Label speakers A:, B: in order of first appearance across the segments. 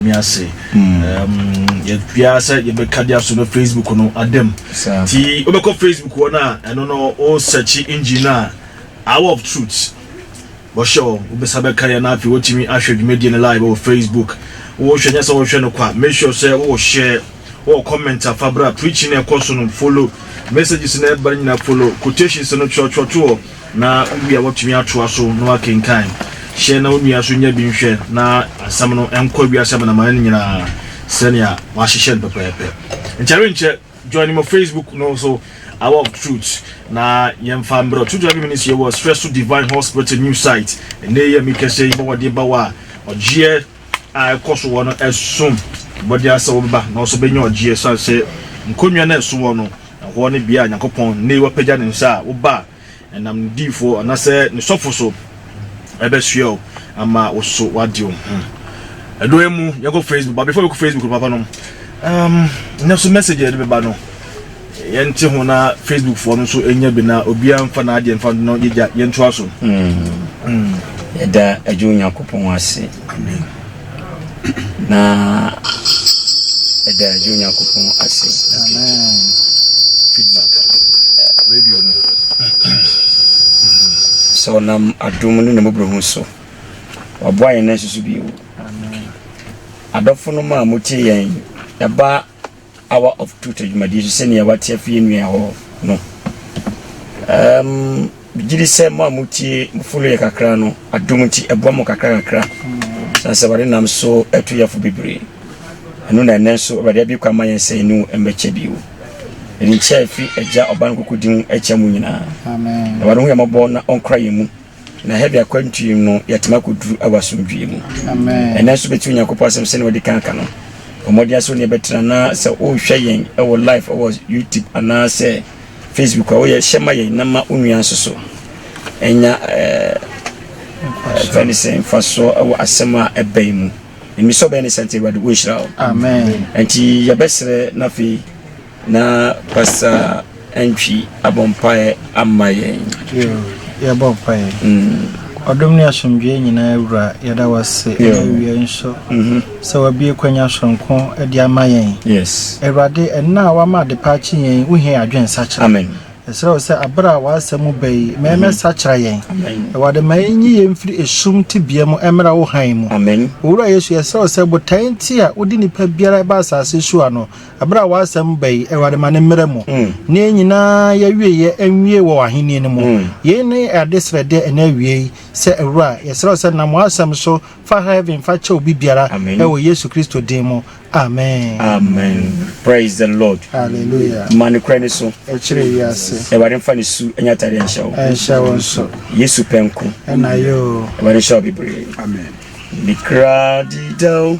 A: Me ase ɛɛm yɛ biara sɛ yɛbɛka de aso no Facebook no adam ti wobɛkɔ Facebook hɔ no a ɛno no wo sɛkyi engine no a hour of truth wɔhyɛ hɔ wobɛsa bɛka yɛ no afei wotumi ahwɛ dwumadie no live wɔ Facebook wohwɛ nyɛ sɛ wohwɛ no kwa make sure sɛ wowɔ share wowɔ comment afa berɛ a preaching no ɛkɔ so no follow messages no ɛba no nyina follow quotations no twerɛtwerɛto hɔ na ebia woatumi atoa so na woakenkan. Hyɛ na wo nua nso nya bi nhwɛ na asɛm no nkɔ wiase amanaman no nyinaa sɛnea wɔahyehyɛ no pɛpɛɛpɛ. Nti ɛrenkyɛ, join me wɔ Facebook no so, Hour of Truth, na yɛmfa mbrɛ True Driving Ministry wɔ Srɛ So Divine Hospital new site. Ɛnnɛ yi a merekasa yi, bɔ wɔde ba wo a, ɔgyeɛ. a ɛkɔ so wɔ no som bo de asɛ wɔbɛba na wɔso bɛnya ɔgyeɛ ɛsiane sɛ nkonnwa no a ɛso wɔ no ɛhɔ ne bea a Nyankopɔn nnɛyi wapagya ne nsa a wo ba ɛnam ne diifoɔ anasɛ ne sɔfo so ɛbɛsoɛ o ama wo so wade wo ho ɛdɔ emu yɛkɔ Facebook ba before yɛkɔ Facebook no papa nom um, nɛ so message yɛde bɛba no Yɛnte ho na Facebook foɔ no nso nya bi na obiara mfa n'adeɛ mfa no na yɛgya yɛntoa so. Yɛda
B: Agya Onyankopɔn ase na yɛda Agya Onyankopɔn ase.
A: Feedback radio no
B: sɛ ɔnam adom ne ne mmɔborɔhu so waboa yɛn na nsusu bio. Adɔfo no ma motie yɛn ɛba Hour of Truth dwumadie so sɛdeɛ wate afi yɛn nua hɔ no. Um, megye di sɛ mo a motie mofolo yɛ kakra no adom nti ɛboa mo kakra kakra sane sɛ wade nam so atu yɛfo bebree ɛno na ɛnɛ nso awurade abie kwa ma yɛn sɛ ɛne mmɛkyɛ bio ɛne nkyɛ ɛfiri agya ɔba no koko din mu ɛkyɛ mo nyinaa na wade ho
A: yɛmmɔbɔ na
B: ɔnkora yɛn mu Na hɛ de akwantuo mu no, yɛatumi akɔduru wɔ asomdwoeɛ mu. Ɛnɛ nso bɛtie
A: Onyankopɔn
B: asɛm sɛdeɛ wɔde kan ka no. Ɔmmɔden asɛ onii bɛtena na sɛ wohwɛ yɛn wɔ live wɔ YouTube anaasɛ Facebook a woyɛ hyɛ ma yɛn na ma onua nso so ɛnya fɛne sɛ mfasoɔ wɔ asɛm a ɛbɛn mu. Nnisɔ bɛyɛ ne sɛ nti Awurade wonhyira wo. Nti
A: yɛbɛserɛ
B: na afei Na pasa antwi abɔ mpaeɛ ama yɛn. Yo,
A: yɛbɔ mpaeɛ. Mm. Ɔdom ne asomdwoeɛ nyinaa wura, yɛda wo ase ɛna awie nso mm-hmm. sɛ wabie kwanya soronko de ama yɛn. Yes. Awurade,
B: ɛnna a
A: wama adepa akye yɛn, wohia yɛ adwene nsakyera. Amen. Ɛsrɛ wo
B: sɛ abere
A: a w'asɛm mu ba yi, ma mm-hmm. ɛmɛsakyera yɛn. Awurade, ma ɛnyi yɛn mfiri esum tebea mu ɛmmra wo hann mu. Amen. Owura Yesu,
B: yɛsrɛ wo
A: sɛ botae nti a wode nipa biara ɛba asase so ano, Bere a w'asɛm ba yi, Awurade, ma no mmra mu, na yɛn nyinaa yɛawieɛ nwie wɔ w'ahennie no mu. Yei ne adesrɛdeɛ ɛna awiei, sɛ Wura, yɛsrɛ wo sɛ nam w'asɛm so fa heaven fa kyɛ obi biara, wɔ Yesu Kristo din mu, amen. Amen.
B: Praise the Lord. Hallelujah. Ma
A: nokorɛ no so.
B: Ɛkyerɛ wiase.
A: Awurade mfa ne su nyɛ
B: atadeɛ nhyɛ wo. Ɛnhyɛ wo nso.
A: Yesu pɛ nko.
B: Ɛna yɛ o.
A: Awurade nhyɛ wo bebree.
B: Amen.
A: Mikra
B: didao.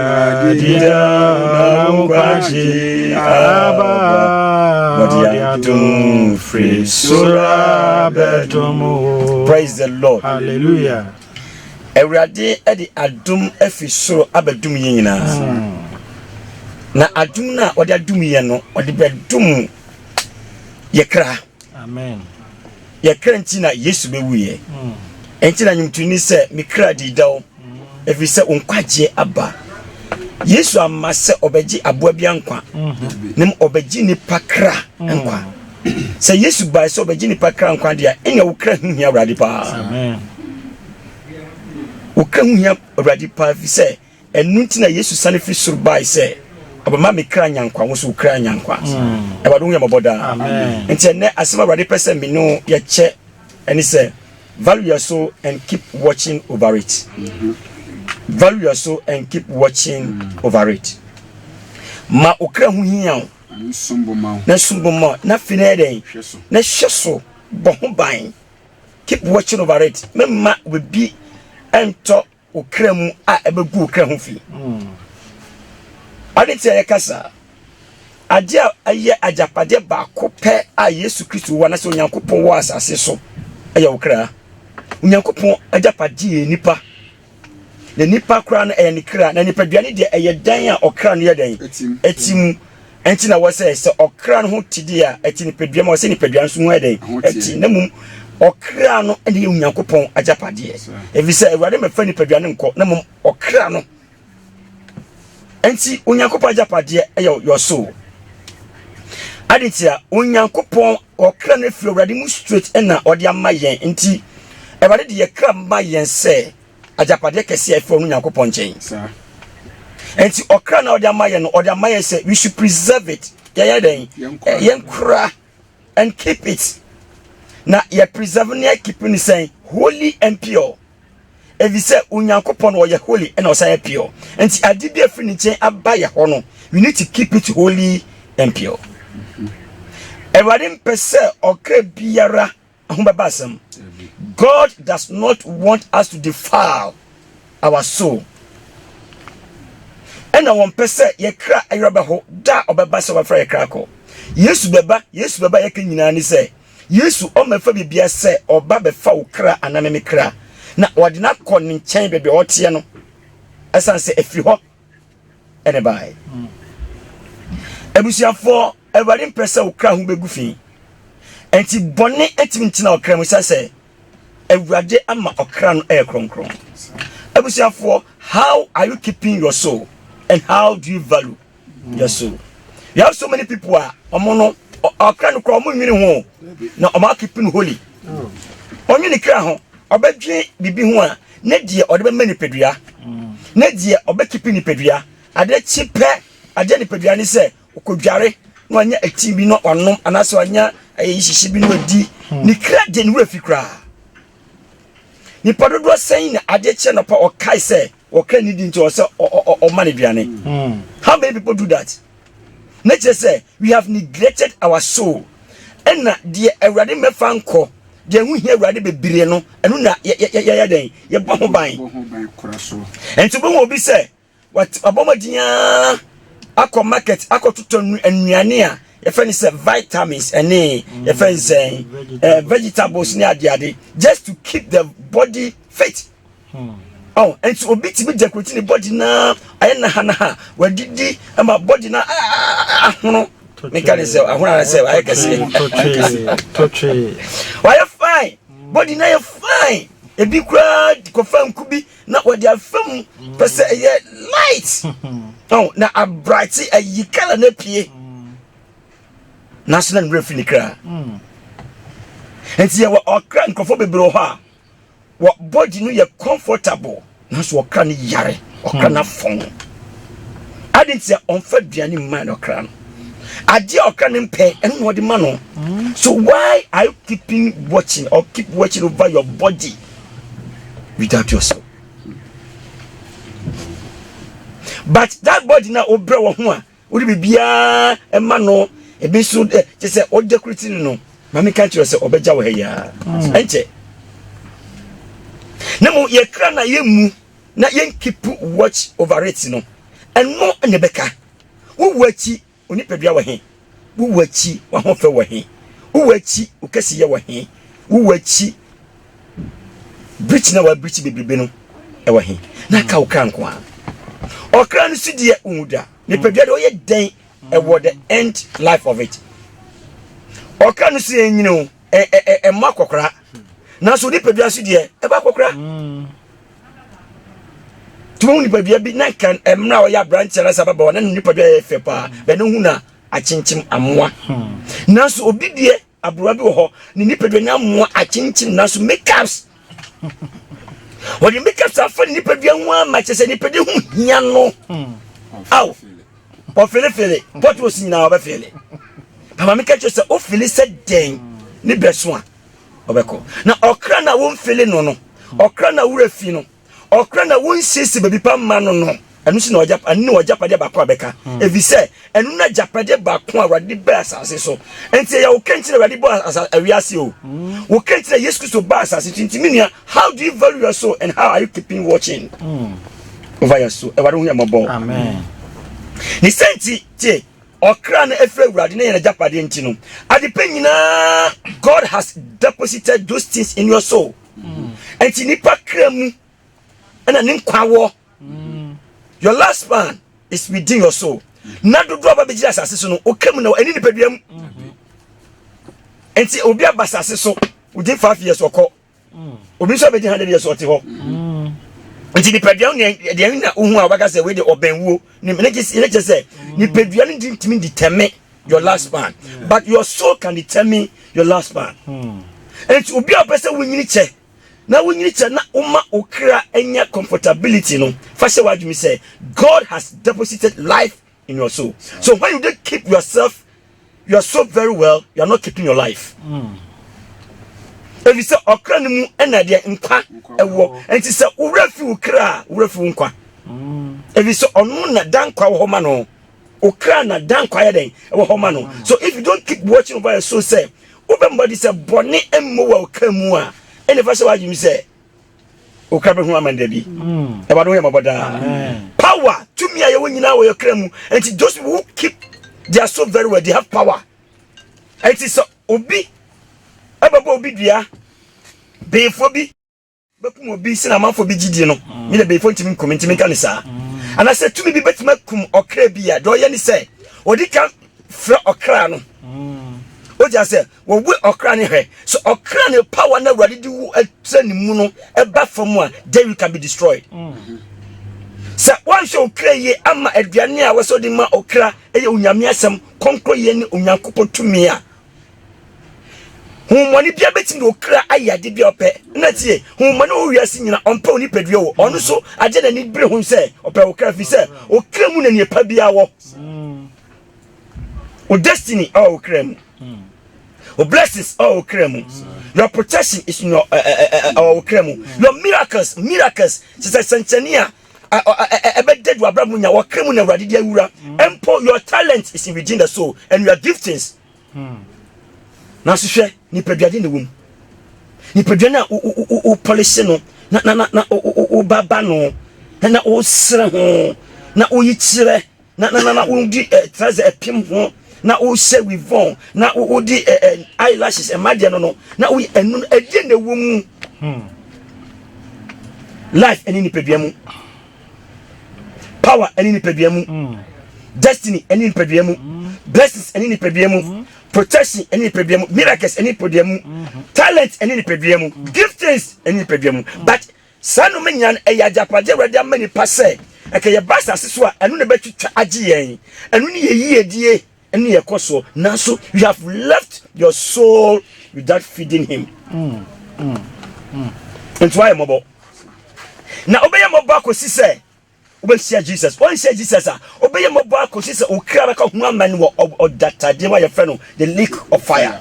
B: Adida na nkwagye aba Wɔde adom firi soro abɛdom o Praise the Lord Hallelujah
A: Awurade
B: de adom afiri soro abɛdom yɛn nyinaa hmm. Na adom no a ɔde adom yɛn no ɔde bɛdom yɛ kra Amen
A: Yɛ kra
B: nti na Yesu bɛwuiɛ hmm. Ɛnti na nwomtoni sɛ me kra di dɛw Ɛfiri sɛ wo nkwagyeɛ aba. Yesu amma sɛ ɔbɛgye aboa bia nkwa, mm-hmm. na ɔbɛgye nipa kra mm. nkwa. Sɛ Yesu bae sɛ ɔbɛgye nipa kra nkwa deɛ a, ɛnna wo kra ho hia Awurade paa. Wo kra ho hia Awurade paa fi sɛ ɛno nti na Yesu sane firi soro bae sɛ ɔbɛma me kra nya nkwa wo so wo kra nya nkwa mm. awurade ho yɛ mmɔbɔ daa nti ɛnɛ
C: asɛm awurade
B: pɛ sɛ me ne yɛkyɛ Ɛne sɛ, value yɛ so and keep watching over it. Value yɛ so and keep watching over it. Ma okra ho hia o. Na som bo ma na fi na yɛ dɛn? Na hwɛ so bɔ ho ban. Keep watching over it. Mɛma obi ntɔ Wo kra mu a ɛbɛgu wo kra ho fi. Ade nti a yɛka saa, ade a ɛyɛ agyapadeɛ baako pɛ a Yesu Kristo wɔ anasɛ Onyankopɔn wɔ asase so ɛyɛ wo kra. Onyankopɔn agyapadeɛ yɛ nipa na nipa koraa no ɛyɛ ne kra na nipadua no deɛ ɛyɛ dan a ɔkra no yɛ dɛn ɛti mu Ɛnti na wɔ sɛ sɛ ɔkra no ho te deɛ a ɛte nipadua ma wɔ sɛ nipadua nso ho yɛ dɛn ɛte na mmom ɔkra no ɛne yɛ onyankopɔn agyapadeɛ ɛfiri sɛ awurade mɛfa nipadua no nkɔ na mmom ɔkra no ɛnti onyankopɔn agyapadeɛ ɛyɛ yɔsoo ade nti a onyankopɔn ɔkra no afiri awurade mu straight ɛna ɔde ama yɛn nti awurade de yɛ kra ma yɛn sɛ Agyapadeɛ kɛseɛ a ɛfiri ɔno Nyankopɔn nkyɛn. Saa. Ɛnti ɔkra na ɔde ama yɛn no, ɔde ama yɛn sɛ we should preserve it. Yɛyɛ dɛn? Yɛn kora and keep it. Na yɛ preserve ne yɛ keep ne sɛn? Holy and pure. Ɛfiri sɛ Onyankopɔn ɔyɛ holy ɛna ɔsan yɛ pure. Ɛnti ade bi a ɛfiri ne nkyɛn aba yɛ hɔ no, we need to keep it holy and pure. Awurade mpɛ sɛ ɔkra biara Ɛho bɛba asɛm. God does not want us to defile our soul. Ɛna wɔn pɛ sɛ yɛkra ɛyɛ bɛho da a ɔbɛba sɛ wɔbɛfra yɛkra akɔ. Yesu bɛba, Yesu bɛba yɛka nyinaa ne sɛ Yesu ɔmɛfa bibia sɛ ɔba bɛfa wo kra anaa me kra na ɔde no akɔ ne nkyɛn baabi a ɔteɛ no ɛsan sɛ ɛfiri hɔ ɛne bae. Abusuafoɔ Awurade mpɛ sɛ wo kra ho bɛgu fi. Ɛnti bɔne ntumi ntena ɔkra mu sɛ sɛ Awurade ama ɔkra no ɛyɛ kronkron. Abusuafoɔ, how are you keeping your soul and how do you value your soul? We have so many people a ɔmo no ɔkra no kora ɔmo nwene ho na ɔmo akeep no holy. Ɔnwene kra ho ɔbɛdwe bibi ho a ne deɛ ɔde bɛma nipadua ne deɛ ɔbɛkeep nipadua adeɛ kyi pɛ adeɛ nipadua ne sɛ Okodware na wanya ɛti bi na wanom anaasɛ wanya ɛyɛ hyehye bi na wadi hmm. ne kra gye ne werɛ fi koraa nipa dodoɔ sɛn na adeɛ kyerɛ nɔpa ɔkae sɛ ɔkra ne di nti ɔsɛ ɔma ne duane hmm. how many people do that na kyerɛ sɛ we have neglected our soul ɛna deɛ awurade mmɛfa nkɔ deɛ ɛho hia awurade bebree no ɛno na yɛyɛ dɛn yɛbɔ ho ban ɛnti wobɛhu obi sɛ Wabɔ mmɔden ara akɔ market akɔtotɔ nnuane a yɛfɛ no sɛ vitamins ɛne yɛfɛ no sɛ eh, vegetables ne adeade just to keep the body fit hmm. oh, nti obi tumi dekorati ne body na ayɛ nahanaha wadidi ma body na ahono meka ne sɛ ahono ara sɛ ayɛ kɛseɛ wayɛ fine body na yɛ fine ebi koraa kɔfa nku bi na wɔde afa mu pɛ sɛ mm. ɛyɛ light ɔn na abrate ayi kala na pie mm. nanso na nwura fi ne kra mm. nti yɛwɔ ɔkra nkurɔfoɔ bebree wɔ hɔ a wɔ body no yɛ comfortable nanso ɔkra no yare ɔkra no afɔn ade nti a ɔmfa aduane mmaa no ɔkra no adeɛ a ɔkra no mpɛ ɛno na ɔde ma no so why are you keeping watching or keep watching over your body without yourself but that body na wobrɛ wɔ ho a wode biribiaa ɛma no ebi nso dɛ kyɛ sɛ ɔgya kuro ti no maame ka kyerɛ sɛ ɔbɛgya wɔ ha yi ara mm. ɛnkyɛ na mmom yɛkra na yɛmmu na yɛnkeep watch over it no ɛno na ɛbɛka wowu akyi Wo nipadua wɔ he? Wo wu akyi, w'ahofɛ wɔ he? Wo wu akyi, wo kɛseyɛ wɔ he? Wo wu akyi, birikyi no a wɔabirikyi bebrebe no wɔ he? Na aka wo kra nko a. Ɔkra no so deɛ wonwu da. Nipadua deɛ ɔyɛ dɛn ɛwɔ the end life of it. Ɔkra no so yɛ nyini o, ɛmmɔ akɔkora. Nanso nipadua so deɛ ɛbɔ akɔkora. tumi hu nipadua bi na kan mmerɛ a ɔyɛ aberanteɛ na sɛ ababaawa na ne nipadua yɛ fɛ paa bɛn ne hu na akyenkyem amoa hmm. nanso obi deɛ aberewa bi wɔ hɔ ne nipadua ne amoa akyenkyem nanso makeups wɔde makeups afa ne nipadua ho ama kyɛ sɛ nipadua ho hia no hmm. aw ɔfelefele pɔtɔs nyinaa ɔbɛfele pama meka kyerɛ sɛ wofele sɛ dɛn ne bɛso a ɔbɛkɔ. Na ɔkra no a womfili no no, ɔkra no a wura fi no, ɔkra no a wonsiesie baabi pa mma no no, ɛno nso na ɛno ne w'agyapadeɛ baako a bɛka, ɛfiri sɛ ɛno na agyapadeɛ baako a Awurade baa asase so. Nti ɛyɛ wo kra nti na Awurade bɔ awiase o, wo kra nti na Yesu Kristo baa asase so. Nti me nua, how do you value your soul and how are you keeping watching over your soul? Awurade ho yɛ mmɔbɔ. Amen.
C: Ne
B: sɛ nti tie. Ɔkra no afiri Awurade ne yɛn agyapadeɛ nti no, adepa nyinaa, God has deposited those things in your soul. Nti nipa kra mu ɛna ne nkwa wɔ. Your last man is within your soul. Na dodo aba bɛgyina asase so no, ɔka mu na ɛne nipadua mu. Nti obi aba asase so within five years ɔkɔ. obi nso a bɛgye ha deɛ sɛ ɔte hɔ nti nipadua no deɛ na wohu a wobɛka sɛ wei de ɔbɛn wuo ne kyɛ sɛ nipadua no de ntumi determine your last man but your soul can determine your last man nti obi a wopɛ sɛ wonyini kyɛ na wonyini kyɛ na woma wo kra anya comfortability no fa hyɛ w'adwumi sɛ god has deposited life in your soul. So when you did keep yourself, your soul very well, you are not keeping your life. Mm. If you say okra ni mu ena de nkwa ewo, and say ure fi ukra, ure fi nkwa. Mm. If you say onu na dan kwa wo ma no, okra na dan kwa ya den wo ma no. So if you don't keep watching over your soul say, obembody say boni emmo wa okra mu a, ene fa se wa jimi say wokra bɛhu aman da bi ɛwɔ ade ho yɛ mɔbɔ daa power tumi a yɛwɔ nyinaa wɔ yɛkra mu nti those who keep their soul very well they have power nti sɛ obi ɛbɛbɔ obi dua beefoɔ bi bɛkum obi sɛ na amanfoɔ bi gyidie no ne na beefoɔ ntumi nkum ntumi nka ne saa anaasɛ tumi bi bɛtumi akum ɔkra bi a deɛ ɔyɛ ne sɛ ɔde ka frɛ ɔkra no wogya sɛ Wɔwe ɔkra no hwɛ. Sɛ ɔkra no power na Awurade de wo akyerɛ ne mu no ɛba fam a, then you can be destroyed. Mm. Sɛ wɔanhwɛ ɔkra yie ama aduane a wɔsɛ ɔde ma ɔkra ɛyɛ onyame asɛm kɔnkɔ yie ne Onyankopɔn tumi a homɔne bia bɛtumi de ɔkra ayɛ ade bia ɔpɛ na tie homɔne wɔ wiase nyina ɔmpɛ wo nipadua wɔ ɔno so agye n'ani bere ho sɛ ɔpɛ ɔkra firi sɛ ɔkra mu na nneɛpa biara wɔ mm. Wo destiny ɛwɔ wo kra mu. Wo blessings ɛwɔ wo kra mu. Your protection is in your ɛwɔ wo kra mu. Your miracles miracles sisɛ sɛnkyɛnni a ɛbɛda du abira mu nya wɔ kra mu na awurade di awura. Mpo your talent is within the soul and your giftings. Na sohwɛ nipadua de na ɛwɔ mu. Nipadua na wo polish no na na na wo baba no na wo sere ho na wo yi kyerɛ. na na na na wodi ɛ eh, trɛsɛ ɛpem ho na wohyɛ wivɔn na wodi ɛ eh, ɛ eh, eyelashes ɛma deɛ no no na woyi ɛnu no ɛdeɛ na ɛwɔ mu hmm. life ɛne nipadua mu power ɛne nipadua mu hmm. destiny ɛne nipadua mu hmm. blessings ɛne nipadua mu protection ɛne nipadua mu miracles ɛne nipadua mu talent ɛne nipadua mu giftings ɛne nipadua mu but Saa nnome nnya no, ɛyɛ agyapade a Awurade ama nnipa sɛ ɛka yɛba asase so a, ɛno na ɛbɛtwitwa agye yɛn. Ɛno ne yɛn yiedie ne yɛn kɔsoɔ. Nanso, you have left your soul without feeding him. Nti woayɛ mmɔbɔ. Na wobɛyɛ mmɔbɔ akɔsi sɛ Wobɛhyia Jesus. Woanhyia Jesus a, wobɛyɛ mmɔbɔ ara kɔsi sɛ wo kra bɛka ho amane wɔ ɔdatadeɛ mu a yɛfrɛ no the lake of fire.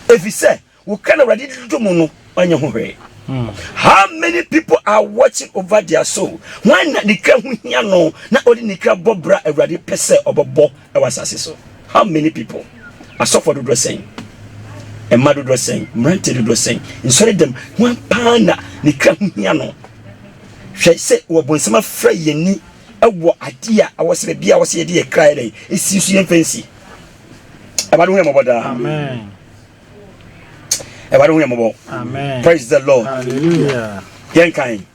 B: Ɛfiri sɛ, wo kra na Awurade de dodɔ mu no, ɔnyɛ ho hwee. Hmm. How many people are watching over their soul? Hwan na ne kra ho hia no na ɔde ne kra bɔ bra Awurade pɛ sɛ ɔbɛbɔ Wɔ asase so, how many people? Asɔfoɔ dodoɔ sɛn? Mma dodoɔ sɛn? Mmeranteɛ dodoɔ sɛn? Nsɔre dɛm, hwan paa na ne kra ho hia no? Hwɛ sɛ wɔ bonsam afra yɛn ni wɔ adeɛ a awɔ sɛ baabi a wɔ sɛ yɛde yɛ kra yɛ dɛn? Esi nso yɛn fɛnsi. Awurade hu yɛn mɔbɔ daa.
C: Amen.
B: Awurade hu yɛn mɔbɔ. Amen. Praise the
C: Lord.
B: Hallelujah.
C: Yɛn kan.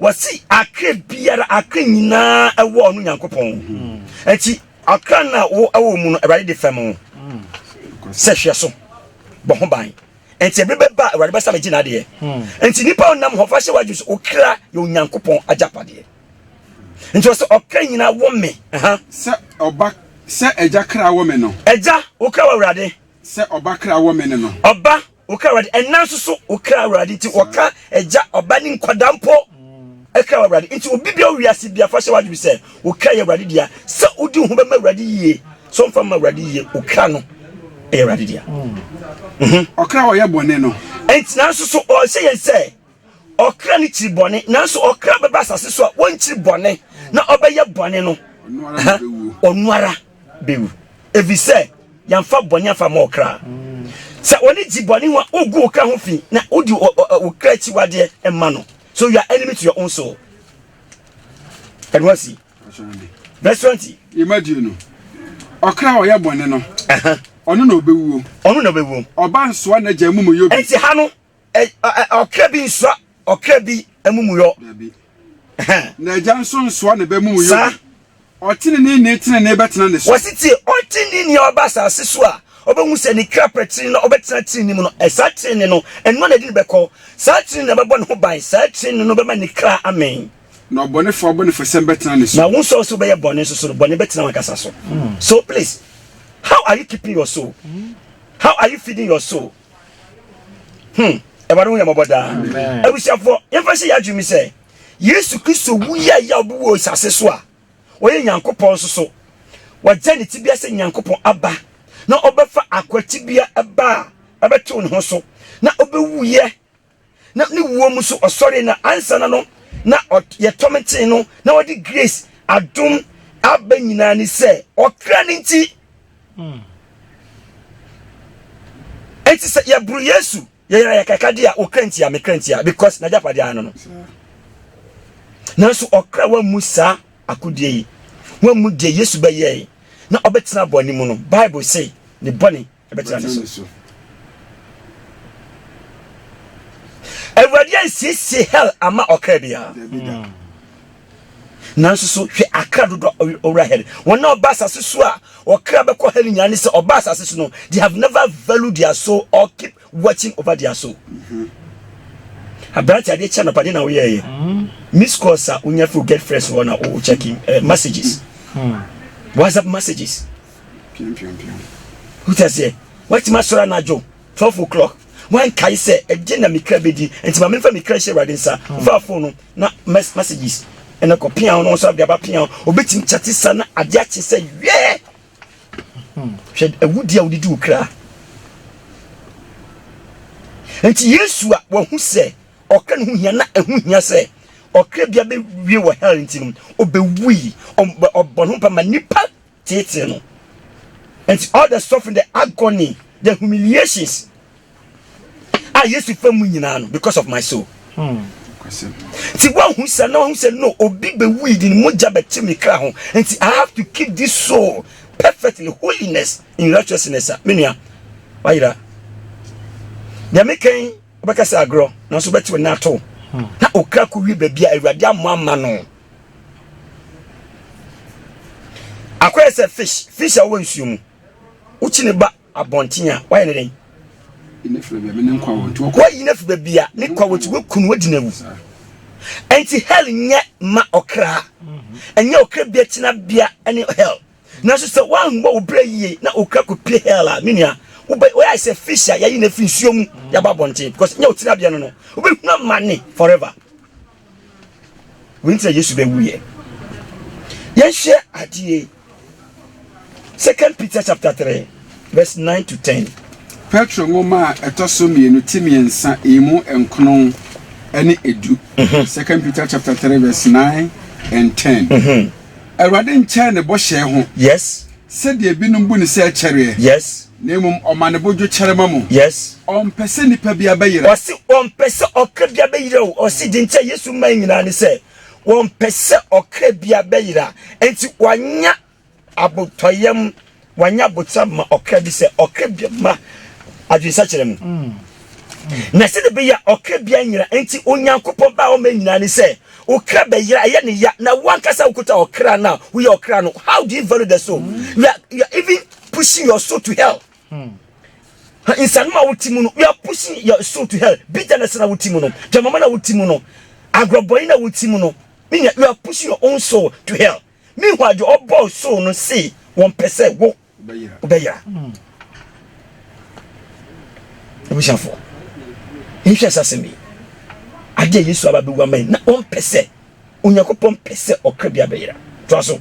B: wɔsi akra biara akra nyinaa ɛwɔ ɔno nyankopɔn ɛti mm. akra no a wo ɛwɔ mu no awurade de fam wo mm. sɛ hwɛ so bɔ ho ban nti ɛbɛ bɛba awurade bɛsa bɛgye n'adeɛ mm. nti nipa ɔnam hɔ fa hyɛ w'adwene so okra yɛ onyankopɔn agyapadeɛ nti ɔsɛ ɔkra nyinaa wɔ me sɛ
D: ɔba sɛ ɛgya kra wɔ me no ɛgya wokra wɔ
B: awurade sɛ ɔba kra
D: wɔ me no no ɔba Wo kra Awurade,
B: ɛnna nso so wo kra Awurade nti wɔka agya, ɔba ne nkwadaa mpo kra wɔ Awurade nti obi bia wiase bia fa hyɛ w'adwene sɛ wo kra yɛ Awurade dea sɛ wodi ho bɛma Awurade yie so mfa ma Awurade yie wo kra no ɛyɛ Awurade dea
D: ɔkra ɔyɛ bɔne no ɛnti nanso so
B: ɔhyɛ yɛn sɛ Ɔkra no kyiri bɔne, nanso ɔkra bɛba asase so a wɔnkyiri bɔne na ɔbɛyɛ bɔne no, ɔno ara bɛwu, ɛfiri sɛ yɛmfa bɔne amfa ma ɔkra. Sɛ wɔne gye bɔne ho a, wogu wo kra ho fi na wodi wo kra akyiwadeɛ ma no. So you are enemy to your own soul. Ɛno asi. Verse 20. Yɛma die no.
D: Ɔkra a ɔyɛ bɔne no, ɔno na ɔbɛwuo. Ɔno na ɔbɛwuo. Ɔba nsoa n'agya amumuyɔ bi. Ɛnti ha no.
B: ɔkra bi nsoa ɔkra bi amumuyɔ
D: na agya nso nsoa ne ba mumuyɔ saa ɔtenene ni tenene bɛtena ne so wɔsi tie ɔtenene
B: ni a ɔba asase so a ɔbɛhu sɛ ne kra pɛ tenene na ɔbɛtena tenene mu no ɛsaa tenene no ɛnoa na ɛde ne bɛkɔ saa tenene na ɛbɛbɔ ne ho ban saa tenene no bɛma ne kra amee na ɔbɔnefo
D: abɔnefosɛm bɛtena ne so. na wo nsɔw so bɛyɛ bɔne nso
B: so no bɔne bɛtena wankasa so. Mm. so please how are you keeping your soul mm. how are you feeding your soul hmm ɛwɔde ho yɛ mɔbɔ daa abusuafoɔ yɛmfa hyɛ yɛ adwene mi sɛ yesu kristo wu yɛ yɛ a ɔbi wɔ asase so a ɔyɛ nyankopɔn nso so wɔgya ne tibia sɛ nyankopɔn aba na ɔbɛfa akwatibea ɛba a ɛbɛtew ne ho so na ɔbɛwuyɛ na ne wuo mu nso ɔsɔre na ansa na no na yɛ tɔm kyee no na ɔde grace adom aba nyinaa ne sɛ ɔkra ne nti hmm. nti sɛ yɛboro yesu yɛyɛra yɛ kaka de a ɔkra nti a mekra nti a because nagyapadeɛ ano no nanso ɔkra wammu saa akodeɛ yi wammu deɛ yesu bɛyɛe na ɔbɛtena bɔne mu no bible se ne bɔne bɛtra ne so. Awurade ansiesie hell ama ɔkra biara. Mm. Nanso so hwɛ akra dodo owura hell. Wɔn a ɔba asase so a ɔkra bɛkɔ hell nyinaa ne sɛ ɔba asase so no they have never valued their soul or keep watching over their soul. Mm-hmm. Aberante adeɛ kyɛ nɔpa deɛ na woyɛ yɛ. Mm-hmm. Miss calls a wonya fi get fresh hɔ na wo checking eh, messages. Mm. WhatsApp messages. piampiampiam. Wote aseɛ? Woatumi asɔre anadwo twelve o'clock wankae sɛ ɛgye na mekra bɛdi nti ma memfa mekra hyɛ awurade nsa wofaa hmm. fon no na messages ɛna kɔ pia no nso adeaba pia obɛtumi kyate sa na adeɛ akye sɛ yɛɛ hmm. hwɛ awudi a wodedi wo kra nti yesu a wahu sɛ ɔkra no ho hia na ɛho hia sɛ ɔkra bia bɛwie wɔ hell nti no ɔbɛwui ɔbɔ no mpa ma nnipa Tete no. And all the suffering, the agony, the humiliations a Yesu fa mu nyinaa no because of my soul. Hmm. Ti wa hu sɛ na ɔhu sɛ no obi bɛ wui di ne mogya bɛ ti mi kra ho nti I have to keep this soul perfectly holiness in righteousness a menua wayira deɛ mekɛn wobɛka sɛ agorɔ nanso wobɛte wo nɛ ato na okra kɔwie baabi a awurade ammɔ ama no Akɔyɛ sɛ fish, fish a ɔwɔ nsuo mu. Wokyi ne ba abɔnten a, wayɛ ne dɛn?
D: Woyi no afi baabi a ne
B: kwa wɔ ti, wakunu, wadi no awu. Ɛnti hell nyɛ ma ɔkra, ɛnyɛ ɔkra bia tenabea ne hell. Nanso sɛ woanbɔ wo berɛ yie na ɔkra kɔpie hell a, me nua, woyɛ sɛ fish a yɛayi no afi nsuo mu de aba abɔnten because nyɛ wo tenabea no no, wobɛhunu amane forever. Wɔn nti na Yesu bɛwuiɛ. Yɛnhwɛ adeɛ. Second Peter chapter three verse nine to ten. Petro nwoma
D: a ɛtɔ so mmienu ti mmiɛnsa emu nkron ne edu. Mhm. Second Peter chapter three verse nine and ten. Mhm. Awurade nkyɛn ne bɔhyɛ ho. Yes. Sɛdeɛ
B: binom
D: bu no sɛ ɛkyɛreɛ. Yes. Na mmom
B: ɔma ne bo
D: dwo kyɛrema mu. Yes. Ɔmpɛ
B: sɛ nipa
D: biara bɛyera. Ɔse ɔmpɛ sɛ
B: ɔkra biara bɛyera o. Ɔse deɛ nti a Yesu mae nyinaa ne sɛ ɔmpɛ sɛ ɔkra biara bɛyera. Enti wanya abotɔyam, wanya abotra ma ɔkra bi sɛ ɔkra biara mma adwensakyera mu. Na sɛdeɛ ɛbɛyɛ a ɔkra biara nyera nti Onyankopɔn ba a ɔmae nyinaa ne sɛ Wo kra bɛyera ɛyɛ ne ya na wankasa wokuta ɔkra no a woyɛ ɔkra no how do you value the soul you are, you are even pushing your soul to hell hmm. nsanom a wote mu no you are pushing your soul to hell bitterness na wote mu no dwamama na wote mu no agorɔbɔne na wote mu no menyɛ you are pushing your own soul to hell meanwhile deɛ ɔbɔɔ soul no se wɔmpɛ sɛ wo wobɛyera. Abusuafo, nhwɛ sɛ asɛm yi, ade a Yesu aba bɛwu ama yi, na ɔmpɛ sɛ, Onyankopɔn pɛ sɛ ɔkra biara bɛyera. Toa so.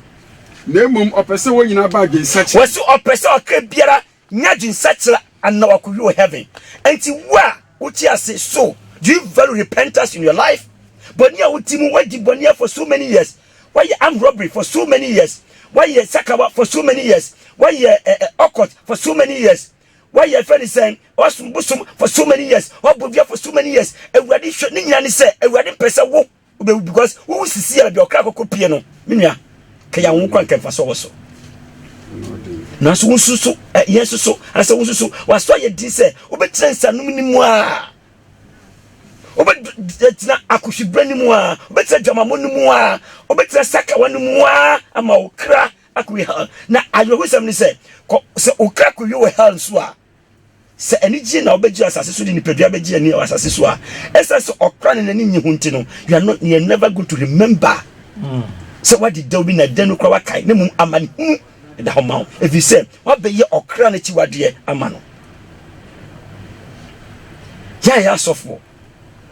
B: Na mmom ɔpɛ
D: sɛ wɔn nyinaa ba adwensakyera. Wɔsi ɔpɛ sɛ ɔkra
B: biara nya adwensakyera anaa wakɔwie wɔ heaven. Enti wo a wote ase, so do you value repentance in your life? Bɔne a wodi mu, woadi bɔne for so many years, Wayɛ armed robbery for so many years, wayɛ sakawa for so many years, wayɛ eh, eh, occult for so many years, wayɛ fɛ ne sɛn, wasom bosom for so many years, wabɔ dua for so many years. Awurade hwɛ ne nyinaa ne sɛ Awurade mpɛ sɛ wo wobɛwu because wowu sisi a baabi ɔkra kɔkɔ pie no me nua kɛyɛ wo kwan kɛmfa so wɔ so nanso wo nso so eh, yɛn nso so anasɛ wo nso so wasɔ yɛ din sɛ wobɛtena nsanom no mu a wobɛtena akohwibra no mu a wobɛtena dwamamɔ no mu a wobɛtena sakawa no mu a ama wo kra akɔwie hell na awerɛhosɛm ne sɛ sɛ wo kra kɔwie wɔ hell nso a sɛ anigye na wobɛgye asase so de nipadua bɛgye ani wɔ asase so a ɛsɛ sɛ ɔkra ne n'ani nye ho nti no you are not you are never going to remember mm. sɛ wade dɛw bi na dɛn no kora wakae na mmom amanehunu da hɔ ma wo, efisɛ woabɛyɛ ɔkra no akyiwadeɛ ama no. Yɛn a yɛyɛ asɔfoɔ,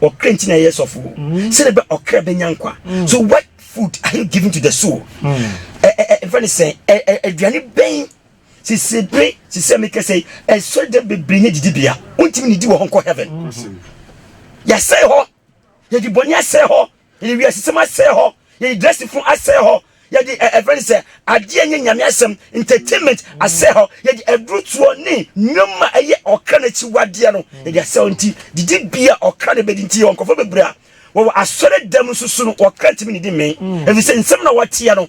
B: ɔkra nti na yɛyɛ sɔfoɔ, sɛdeɛ bɛ ɔkra bɛnya nkwa. So what food are you giving to the soul? Ɛfɛ ne sɛn, aduane bɛn sisi bere sisi a mekasa yi, ɛsɔre dɛ bebree nyɛ didibea, wontumi nidi wɔ hɔ nkɔ heaven. Yɛasɛe hɔ, yɛde bɔne asɛe hɔ. Yɛde wiasesɛm asɛe hɔ, yɛde dressing fun asɛe hɔ, yɛde ɛ ɛfrɛ no sɛ adeɛ a ɛnyɛ Nyame asɛm, entertainment, asɛe hɔ, yɛde adurutoɔ ne nnwom a ɛyɛ ɔkra no akyiwadeɛ no, yɛde asɛe hɔ. Nti didibea a ɔkra no bɛdi nti yɛwɔ nkurɔfoɔ bebree a wɔwɔ asɔre dɛm nso so no ɔkra ntumi nnidi mmee, ɛfiri sɛ nsɛm no a wɔteɛ no,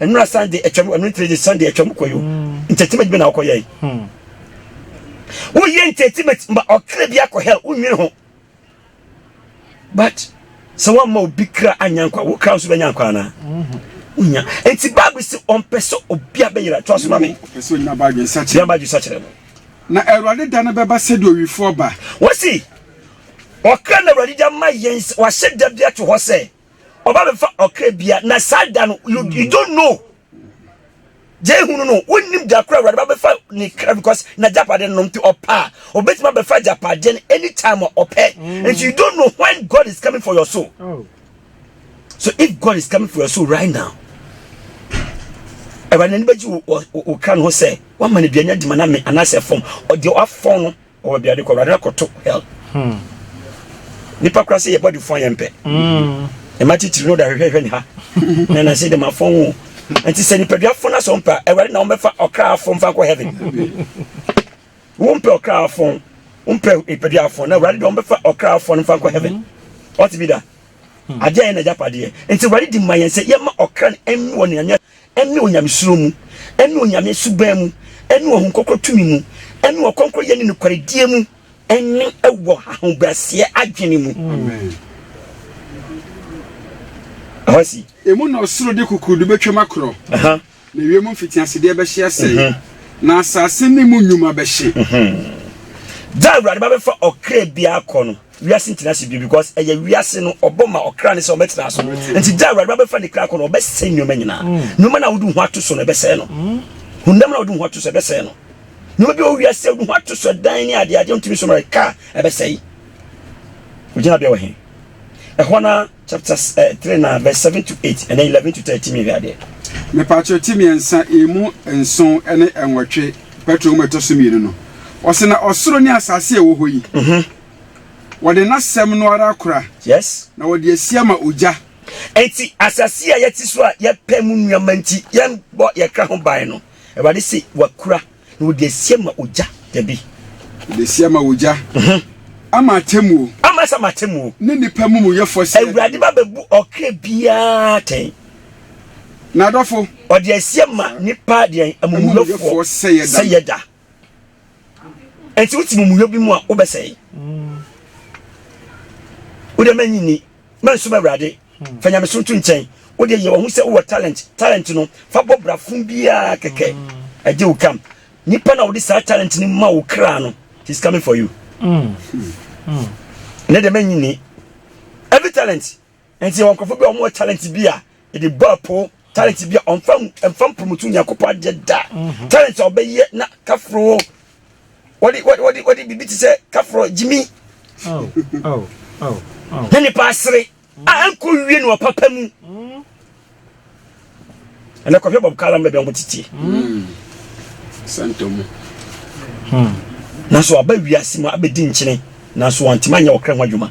B: Nnora san de atwam, ɛno nti de san de atwam kɔ yo. Entertainment bi na ɔkɔ yɛe. Hmm. Wo yɛ entertainment ma ɔkra bi akɔ hell, wo nwene ho. But sɛ wo amma obi kra anya nkwa, wo kra nso bɛnya nkwa ana? Mm-hmm. Unya. Enti Bible se ɔmpɛ sɛ obi abɛyera. To asoma me. Ɔpɛ sɛ onya badwe
D: nsakyerɛ. Nya badwe nsakyerɛ no.
B: Na Awurade
D: da no bɛba sɛdeɛ owifoɔ ba. Wɔsi
B: ɔkra na Awurade de ama yɛn, wahyɛ da bi ato hɔ sɛ. ɔba bɛfa ɔkra bia na saa da no you, you don't know gye hunu no wonim da koro awurade ba bɛfa ne kra because na japade no nti ɔpɛ a ɔbɛtumi abɛfa japade no anytime a ɔpɛ mm. nti you don't know when God is coming for your soul oh. so if God is coming for your soul right now awurade n'ani bɛgye wo kra no ho sɛ woama no aduane adima no ame anaasɛ fam ɔdeɛ wafɔn no Ɔwɔ bia de kɔ awurade na kɔto hell. Hmm. Nipa kura se yɛ body fun yɛ mpɛ. Hmm. Ɛma titiri no da hwehwɛ hwɛ ne ha. Na na se de ma fun wo. Nti sɛ nipadua fun na sɛ ɔmpa awurade na ɔmbɛfa ɔkra afun fa kɔ heaven. Wo mpɛ ɔkra afun, mpɛ nipadua afun na awurade de ɔmbɛfa ɔkra afun fa kɔ heaven. Ɔte bi da. Adeɛ yɛ na agyapadeɛ. Nti awurade di ma yɛn sɛ yɛma ɔkra no ɛnni wɔ ne ne onyamesuro mu, ne Onyame suban mu, ne Ɔhon Krɔkrɔ tumi mu, ne ɔkrɔnkrɔyɛ ne nokwaredie mu, ne wɔ hahobraseɛ adwene mu. Amen. Ɛhɔ si. Emu na ɔsoro
D: de kukurudu bɛtwam akorɔ, na wiem mfitiasedeɛ bɛhye asɛe, na asase ne mu nnwuma bɛhye.
B: Da a Awurade ba bɛfa ɔkra biara kɔ no. wiase ntina ase bio because ɛyɛ wiase no ɔbɔ ma ɔkra ne sɛ ɔbɛtena so mm. nti gya awurade bɛfa ne kra kɔ no ɔbɛsɛe nneɛma nyinaa mm. nneɛma na wode ho ato so no ɛbɛsɛe no mm. honam na wode ho ato so ɛbɛsɛe no nneɛma bi wɔ wiase wode ho ato so dan ne adeade ntumi so mmerɛ ka ɛbɛsɛe wogyina bia wɔ he ɛhɔ no Chapters eh, three na verse seven to eight ɛnna eleven to thirteen mi wiadeɛ. mepatro ti
D: mmiɛnsa emu nson ne nwɔtwe petro mu ɛtɔ so mmienu no ɔsɛ na ɔsoro ne asase a ɛwɔ hɔ yi mhm. wɔde n'asɛm no ara kora yes na wɔde
B: asi ama
D: ogya enti
B: asase a yɛte so a yɛpɛ mu nneɛma nti yɛbɔ yɛkra ho ban no awurade se wakura Na wɔde asi ama ogya. Dabi. Wɔde asi
D: ama ogya. Ama atemmuo. Ama sɛ ama atemmuo.
B: Ne nnipa amumuyɛfoɔ
D: sɛ.
B: Awurade ba
D: bɛbu
B: ɔkra biara
D: tɛn.
B: Na
D: adɔfo. Ɔde asi ama
B: nnipa deɛ amumuyɛfoɔ sɛ yɛ da. Nti wote mumuyɔ bi mu a wobɛsɛe. Wode ma nyini. Mansom Awurade. Fa nyamesom to nkyɛn. Wo deɛ yɛ wahu sɛ wowɔ talent. Talent no, fa bɔ bra fun biara kɛkɛ. Ɛgye wo kam. Nipa na ɔde saa talent no ma wo kra no, he's coming for you. Ne deɛ mɛnyi ni. Every talent. Ɛnti yɛ wɔ nkorɔfo bi a wɔn wɔ talent bi a, yɛde bɔ apo. talent bi a ɔmfa mfa mpromoto nyankopɔn adeɛ da mhm. talent a ɔbɛyɛ na kaforo wɔde wɔde wɔde biribi te sɛ kaforo gyimi na nipa asere a ɛnkɔ wie no ɔpapa mu mm. ɛnɛ kɔhwɛ bɔb kalam baabi a wɔn tete mm. santomu
D: hmm.
B: nanso aba wiase mu abɛdi nkyene nanso wɔntumi anyɛ ɔkra ho adwuma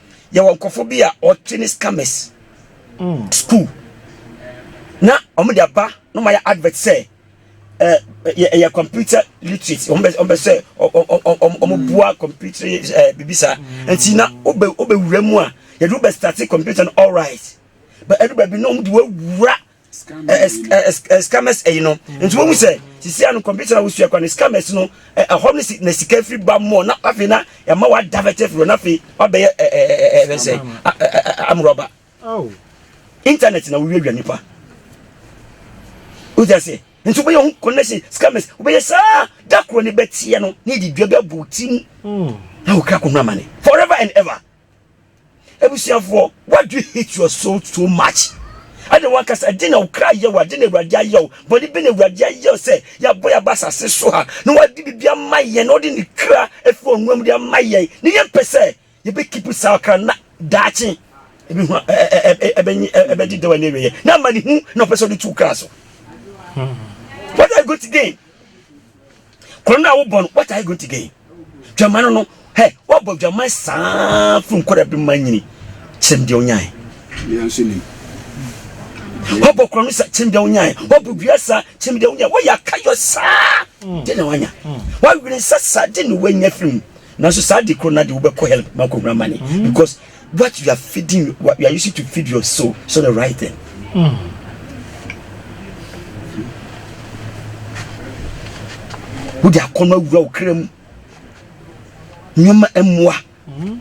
B: yɛwɔ nkurɔfoɔ bi a wɔte ne scammers mm. school na wɔn de aba na wɔn ayɛ advert sɛ ɛɛ ɛyɛ computer literate wɔn bɛ wɔn bɛ sɛ wɔn wɔn bua computer ɛɛ bibi saa nti na wɔbɛ wɔbɛ wura mu a yɛde wɔbɛ start computer no all right but ɛdu baabi na wɔn de wɔwura. scammers ɛyi no nti wɔn mu sɛ sisi ano kɔmputa na wosua kwan no scammers no ɛhɔ no si na sika firi ba mu na afei na ɛma wa divert firi na afei wabɛyɛ ɛɛ ɛɛ sɛ amurɔba internet na wowie wia nipa wogya se nti wobɛyɛ ho connection scammers wobɛyɛ saa da korɔ ne bɛteɛ no ne de dua bɛbɔ ti mu na wokra kɔhunu amane forever and ever abusuafoɔ why do you hate your soul so much ɛde wɔn akasa ɛde na okra yɛ wɔ ɛde na awurade ayɛ wɔ bɔne bi na awurade ayɛ wɔ sɛ yɛabɔ yɛ aba asase so ha na wɔde biribi ama yɛn na wɔde ne kra efi wɔn nwura mu de ama yɛn ne yɛn pɛ sɛ yɛbɛ keep saa kra na daakye ebi ho ɛbɛnyi ɛbɛdi dɛwɔ ne awieɛ na ama ne hu na ɔpɛ sɛ ɔde tu kra so what are you going to gain. Kɔn no a wobɔ no, what are you going to gain? Dwama no no, hɛ, woabɔ dwama saa firi nkɔda bi ma nyini. Kyerɛm deɛ onyae. Woabɔ kɔn no sa kyerɛm deɛ onyae. Woabɔ dua sa kyerɛm deɛ onyae. Woyɛ akayɔ saa mm. de na wanya. Mm. Woawene nsa sa de na wanya firi mu. Nanso saa de koro no de wobɛkɔ hɛl ma kɔhunu amane mm. because what you are feeding what you are using to feed your soul so the right thing. Mm. wo de akɔnɔ awura wo kra mu nneɛma mmoa mm-hmm.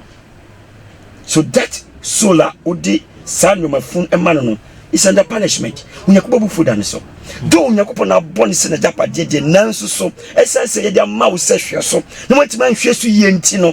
B: so that soul a wode saa nneɛma fun ma no no is under punishment onyankopɔn bu fo da ne so though onyankopɔn na abɔ ne sɛ n'agyapadeɛ deɛ nanso so ɛsiane sɛ yɛde ama wo sɛ hwɛ so na woatumi anhwɛ so yie nti no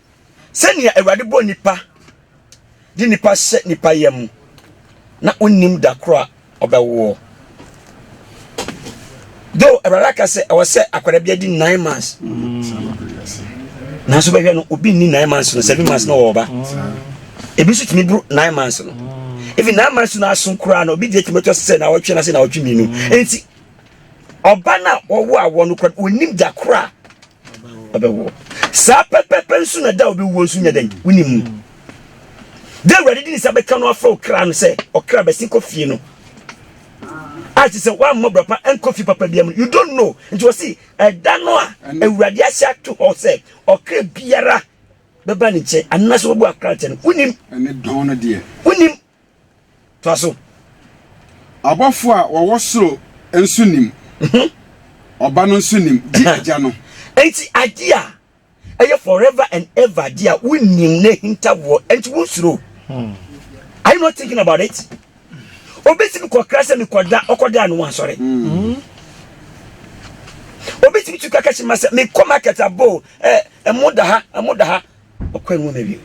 B: Sɛnea Awurade bɔ nnipa de nnipa hyɛ nnipa yam na onnim da koro a ɔbɛwoɔ. Though Awurade aka sɛ ɛwɔ sɛ akwadaa bi adi nine months. Nanso bɛhwɛ no obi nni nine months no seven months na ɔwɔ ɔba. Ebi nso tumi buru nine months no. Ebi nine months no aso koraa na obi deɛ tumi tɔ sɛ na ɔtwe na sɛ na ɔtwe mmienu. Enti ɔba na ɔwɔ awɔ no kora onim da koro a ɔbɛwoɔ saa pɛpɛpɛ nso na da a ɔbɛwuo nso nyɛ dɛn wonim mu da awurade de ne nsa bɛka no afrɛ ɔkra no sɛ ɔkra bɛsi kɔ fie no a te sɛ woammɔ bra pa ɛnkɔ fie papa biam you don't know nti wɔse ɛda no a awurade ahyɛ ato hɔ sɛ ɔkra biara bɛba ne nkyɛn anaasɛ wɔbɔ akra nkyɛn no wonim
D: wonim
B: Toa so.
D: Abɔfo a wɔwɔ soro nso nim. Mhm. Ɔba no nso nim, gye Agya no. Enti ade
B: a ɛyɛ forever and ever de a wonim na ahintawoɔ nti wonsuro. Hmm. Are you not thinking about it? Obetumi kɔkra sɛ mekɔda ɔkɔda ano wansɔre. Hmm. Obetumi tu kaka hyɛ ma sɛ mekɔ market abo ɛmo da ha ɛmo da ha. Ɔkwan mu na wiem.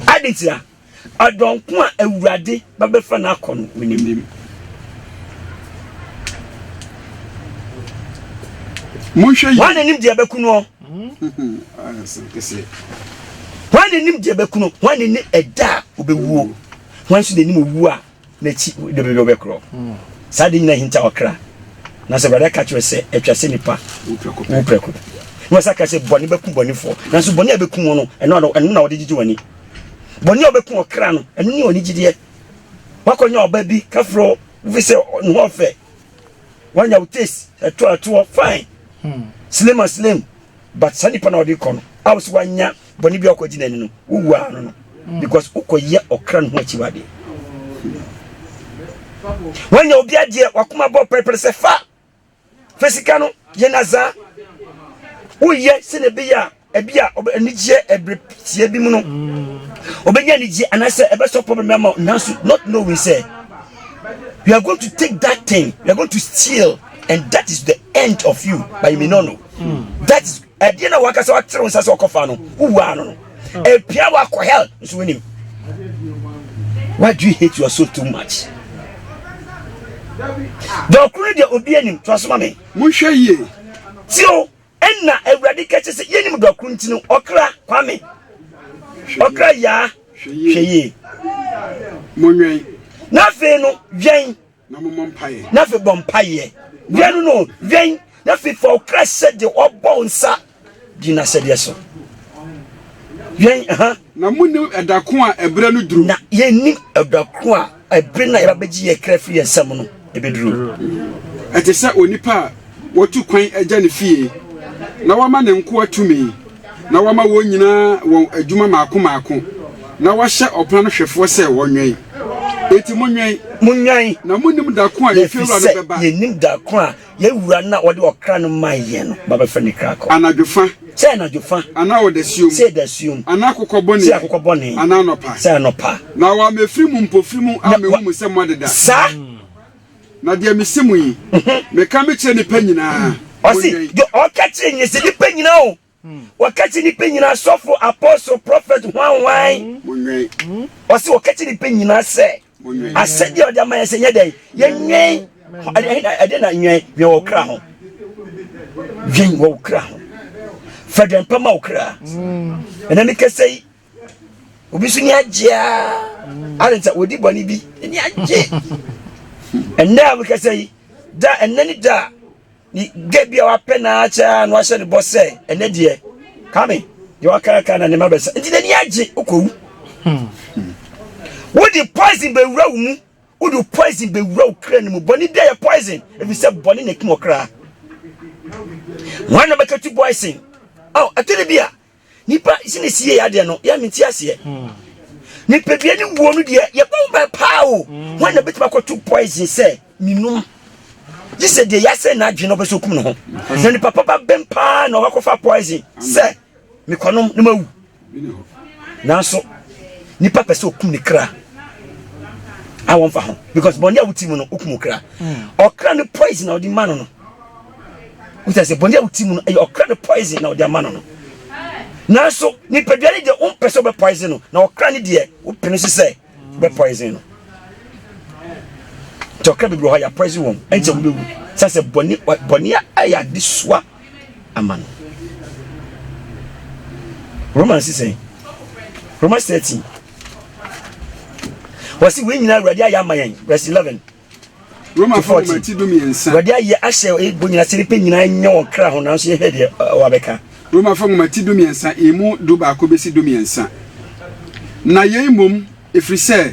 B: Adetira, ɔdɔn ko a Awurade bɛbɛfa no akɔ no, menim. Monhwɛ
D: yi. Wɔn na nim deɛ bɛku no. Wɔn
B: na nim deɛ bɛku no. Wɔn na nim ɛda a wɔbɛwuo. Wɔn nso na nim owuo a N'akyi de baabi a ɔbɛkorɔ. Saa de nyina hinta ɔkra. Nanso Awurade aka kyerɛ sɛ, atwa sɛ nipa wu prɛko pɛ. Na wɔsa ka sɛ, bɔne bɛku bɔnefoɔ. Nanso bɔne a ɛbɛku wɔn no, ɛno ɛno na wɔde gyegye wɔn ani. Bɔne a ɔbɛku ɔkra no, ɛno ne ɔnigyedeɛ. Wakɔnya ɔba bi kafro, wofi sɛ ne ho ɔfɛ. Wanya wo taste, ɛtoɔ ɛtoɔ, fine. Hmm. Slim a slim. But saa nipa na ɔde kɔ no, a wɔsi wanya Bɔne bi a ɔkɔgye n'ani no, wowu ara no no mm. because wokɔyɛ ɔkra no ho akyiwadeɛ. Wanya obi adeɛ, wakoma bɔ pɛrepɛre sɛ fa fa sika no yɛ nazaa. Woyɛ sɛ na ɛbɛyɛ a ɛbi a anigyeɛ ɛbere tiɛ bi mu no ɔbɛnya mm. anigyeɛ anaasɛ ɛbɛsɔ problem ama nanso not knowing sɛ you are going to take that thing you are going to steal and that is the end of you but you may not know mm. that is Ɛdeɛ na waka sɛ ɔtere wo nsa sɛ ɔkɔfa no wowuaa no no ɛpia wakɔ hell nso wonim why do you hate your soul too much dɔkoro no deɛ obi anim to asoma me monhwɛ yie
D: tio
B: ɛnna awurade ka kyɛ sɛ yɛnim dɔkoro nti no ɔkra kwame ɔkra yaa hwɛ yie
D: monwɛn na
B: afei no wɛn Na mommɔ mpaeɛ.
D: Na afei bɔ mpaeɛ.
B: Mmienu no, wɛn, na afei fa wo kra hyɛ deɛ ɔbɔ wo nsa di n'ahyɛdeɛ so. Wɛn, aha. Na
D: monnim ɛda ko a ɛberɛ no duru. Na yɛnnim
B: ɛda ko a ɛbere no a yɛbɛbɛgye yɛn kra afiri yɛn nsam no bɛduru. Ɛte
D: sɛ onipa a Watu kwan agya ne fie, na wama ne nkoa tumi, na wama wɔn nyinaa wɔn adwuma mmaako mmaako, na wahyɛ ɔpon ano hwɛfoɔ sɛ wɔnwɛn. Enti monwɛn. Monwɛn. Na monnim da ko a efie wura no bɛba. Efisɛ yennim da ko a
B: yɛn wura no a ɔde ɔkra no mae yɛn no ba bɛfrɛ ne kra kɔ. Anadwo fa. Sɛ
D: anadwo fa.
B: Anaa ɔdasuom. Sɛ
D: dasuom. Anaa
B: akokɔ bɔne. Sɛ
D: akokɔ bɔne. Anaa
B: anɔpa. Sɛ anɔpa.
D: Na
B: wama efiri mu
D: mpofirim a mehu mo sɛ moadeda. Saa
B: Na
D: deɛ mese mo yi, meka mekyerɛ nnipa nyinaa. Ɔse, deɛ
B: ɔka kyerɛ nyina sɛ nnipa nyina o, ɔka kyerɛ nnipa nyina, asɔfo, apɔstle, prɔfɛt, hwan hwan. Monwɛn.
D: Ɔse ɔka kyerɛ
B: nnipa nyina sɛ, asɛdeɛ a ɔde ama yɛn sɛ nyɛ dɛn, yɛnwɛn. Ɛdeɛ na nwɛn, nwɛn wɔ kra ho. Dwen wɔ wo kra ho. Fa dwempa ma wo kra. Ɛnɛ mekasa yi, obi nso ni agye a ade nsa wɔdi bɔne bi ni agye ɛnna a mekasa yi da ɛnna ne da ne gɛ bi a wapɛ naa kyɛa na wahyɛ ne bɔ sɛ ɛnɛ deɛ kame deɛ wakaraka na ne ma bɛsa nti n'ani agye wokɔwu hmm. wode poison bɛwura wo mu wode poison bɛwura wo kra no mu bɔne bi a yɛ poison ɛfiri sɛ bɔne na ɛkum ɔkra wana bɛkatu poison ɛtɔ ne bi a Nipa si ne sie adeɛ no yɛ me nti aseɛ hmm. nipadua ne wuo no deɛ yɛbɔ ho ban paa o hmm. wɔn na bɛtumi akɔto poison sɛ menum gye sɛ deɛ yɛasɛ no adwene no ɔbɛ sɛ ɔkum ne ho hmm. na nipa papa bɛm paa na ɔbɛkɔfa poison sɛ mekɔnom ne mawu nanso nipa pɛ sɛ ɔkum ne kra a wɔmfa ho because bɔne a woti mu no wokum kra ɔkra no poison a ɔde ma no no wosɛ sɛ bɔne a wote mu no ɛyɛ ɔkra no poison na wɔde ama no no nanso nipadua no deɛ wompɛ sɛ wobɛ poison no na ɔkra no deɛ wopene so sɛ wobɛ poison no nti ɔkra bebree hɔ a yɛapoison wɔn ɛnkyɛ wobɛwu sɛ sɛ bɔne bɔne a ɛyɛ ade soa ama no romans sɛ romans 13 wɔse wei nyina awurade ayɛ ama yɛn verse 11 Romafo
D: nwoma ti du mmiɛnsa. Wɔde ayɛ ahyɛ
B: ebo nyinaa sɛ nipa nyinaa nyɛ wɔn kra ho nanso yɛhwɛ deɛ wɔabɛka. Romafo nwoma ti
D: du mmiɛnsa emu du baako bɛsi du mmiɛnsa. Na yei mmom ɛfiri sɛ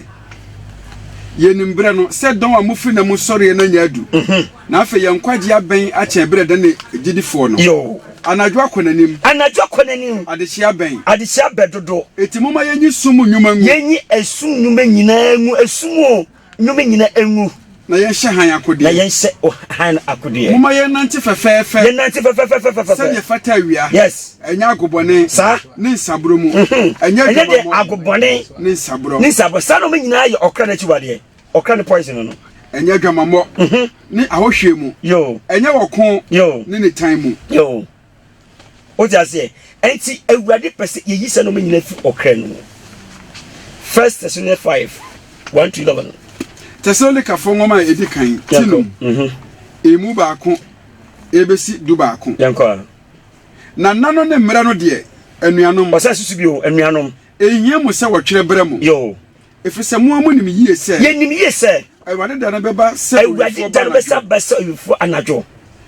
D: yɛnim berɛ no sɛ dɔn a mofiri na mu sɔreɛ no anya adu mhm. na afei yɛn nkwagye abɛn akyɛn berɛ dɛn ne gyidifoɔ no anadwo akɔ
B: n'anim
D: anadwo akɔ n'anim adehyia bɛn adehyia bɛdodo
B: ɛti moma yɛnyi
D: sum nnwuma ngu yɛnyi ɛsum nnwuma
B: nyinaa ngu ɛsum o Nnome nyina ngu. Na yɛnhyɛ hann
D: akodeɛ. Na yɛnhyɛ
B: hann akodeɛ. Momma yɛnnante
D: fɛfɛɛfɛ. Yɛnnante fɛfɛɛfɛ. Sɛdeɛ ɛfata awia. Yes. Ɛnyɛ agobɔne. Saa. Ne nsaburo
B: mu.
D: Ɛnyɛ adwamammɔ. Ɛnyɛ deɛ agobɔne.
B: Ne nsaburo. Ne
D: nsaburo. Saa nnome nyinaa
B: yɛ ɔkra no akyiwadeɛ. Ɔkra no poison no. Ɛnyɛ adwamammɔ.
D: Ne ahohwieɛ mu. Yoo. Ɛnyɛ ɔko. Yoo. Ne nitan
B: mu.
D: Yoo.
B: Wote aseɛ? Ɛnti Awurade pɛ sɛ yɛyi sɛ nɔma nyina fi ɔkra no mu. First Thessalonians 5, 1 to 11.
D: Tesalonikafoɔ nwoma a ɛdi kan ti nom, mhm. emu baako ɛbɛsi du baako.
B: Na nna
D: no ne mmerɛ no deɛ, anuanom. Ɔsɛ susu bi o,
B: anuanom. Ɛhia mu sɛ
D: wɔtwerɛ berɛ mo. Yoo. Ɛfiri
B: sɛ mo a
D: monim yie sɛ. Yɛnim yie sɛ.
B: Awurade da no bɛba sɛ
D: owifoɔ anadwo. Awurade da no bɛsa
B: ba sɛ owifoɔ anadwo.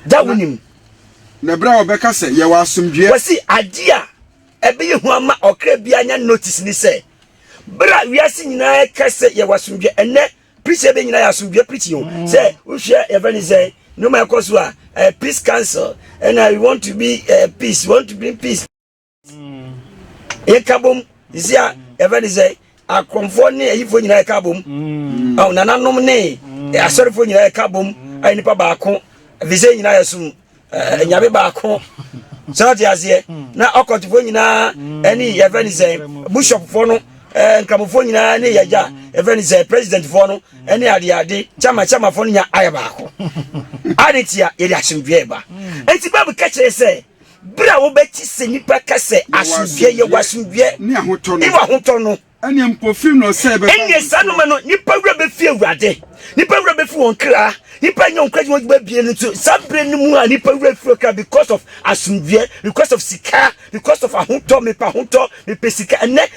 B: Da wonim. Na bere a
D: wɔbɛka sɛ, Yɛwɔ asomdwoeɛ. Kwasi, Adeɛ a
B: ɛbɛyɛ hu ama ɔkra biara anya notice ne sɛ, bere a wiase nyinaa reka sɛ yɛwɔ asomdwoeɛ, ɛnnɛ preaching bɛ nyinaa yɛ asomdwoeɛ preaching o. Sɛ wohwɛ yɛfrɛ ne sɛ nneɛma a ɛkɔ so a, ɛyɛ peace council, ɛna we want to be uh, peace, we want to bring peace. yɛka bom sisi a yɛfɛ ne sɛ akorɔmfoɔ ne ayifoɔ nyinaa yɛka bom mm. awo nananom ne mm. asɔrefoɔ nyinaa yɛka bom ayɛ nipa baako afisɛ nyinaa yɛ som eh, nyame baako sɛ ɔte aseɛ mm. na ɔkɔtofoɔ nyinaa ɛne yɛfɛ ne sɛ bishopfoɔ no eh, nkramofoɔ nyinaa ne yɛgya yɛfɛ ne sɛ presidentfoɔ no ɛne adeade kyama kyamafoɔ no nya ayɛ baako ade tia yɛde asomdwoeɛ ba ɛnti bible ka kyerɛ sɛ Bere a wobɛte sɛ nnipa ka sɛ asomdwoeɛ, yɛwɔ asomdwoeɛ ne
D: ahotɔ no, ɛneɛ
B: mpofirim na
D: ɔsɛe bɛba. Ɛneɛ saa noma no, nnipa
B: werɛ bɛfi Awurade, nnipa werɛ bɛfi wɔn kra, nnipa nyɛ wɔn kra adwuma adwuma bie no nso. Saa bere no mu a nnipa werɛ fi ɔkra because of asomdwoeɛ, because of sika, because of ahotɔ, mepɛ ahotɔ, mepɛ sika. Ɛnɛ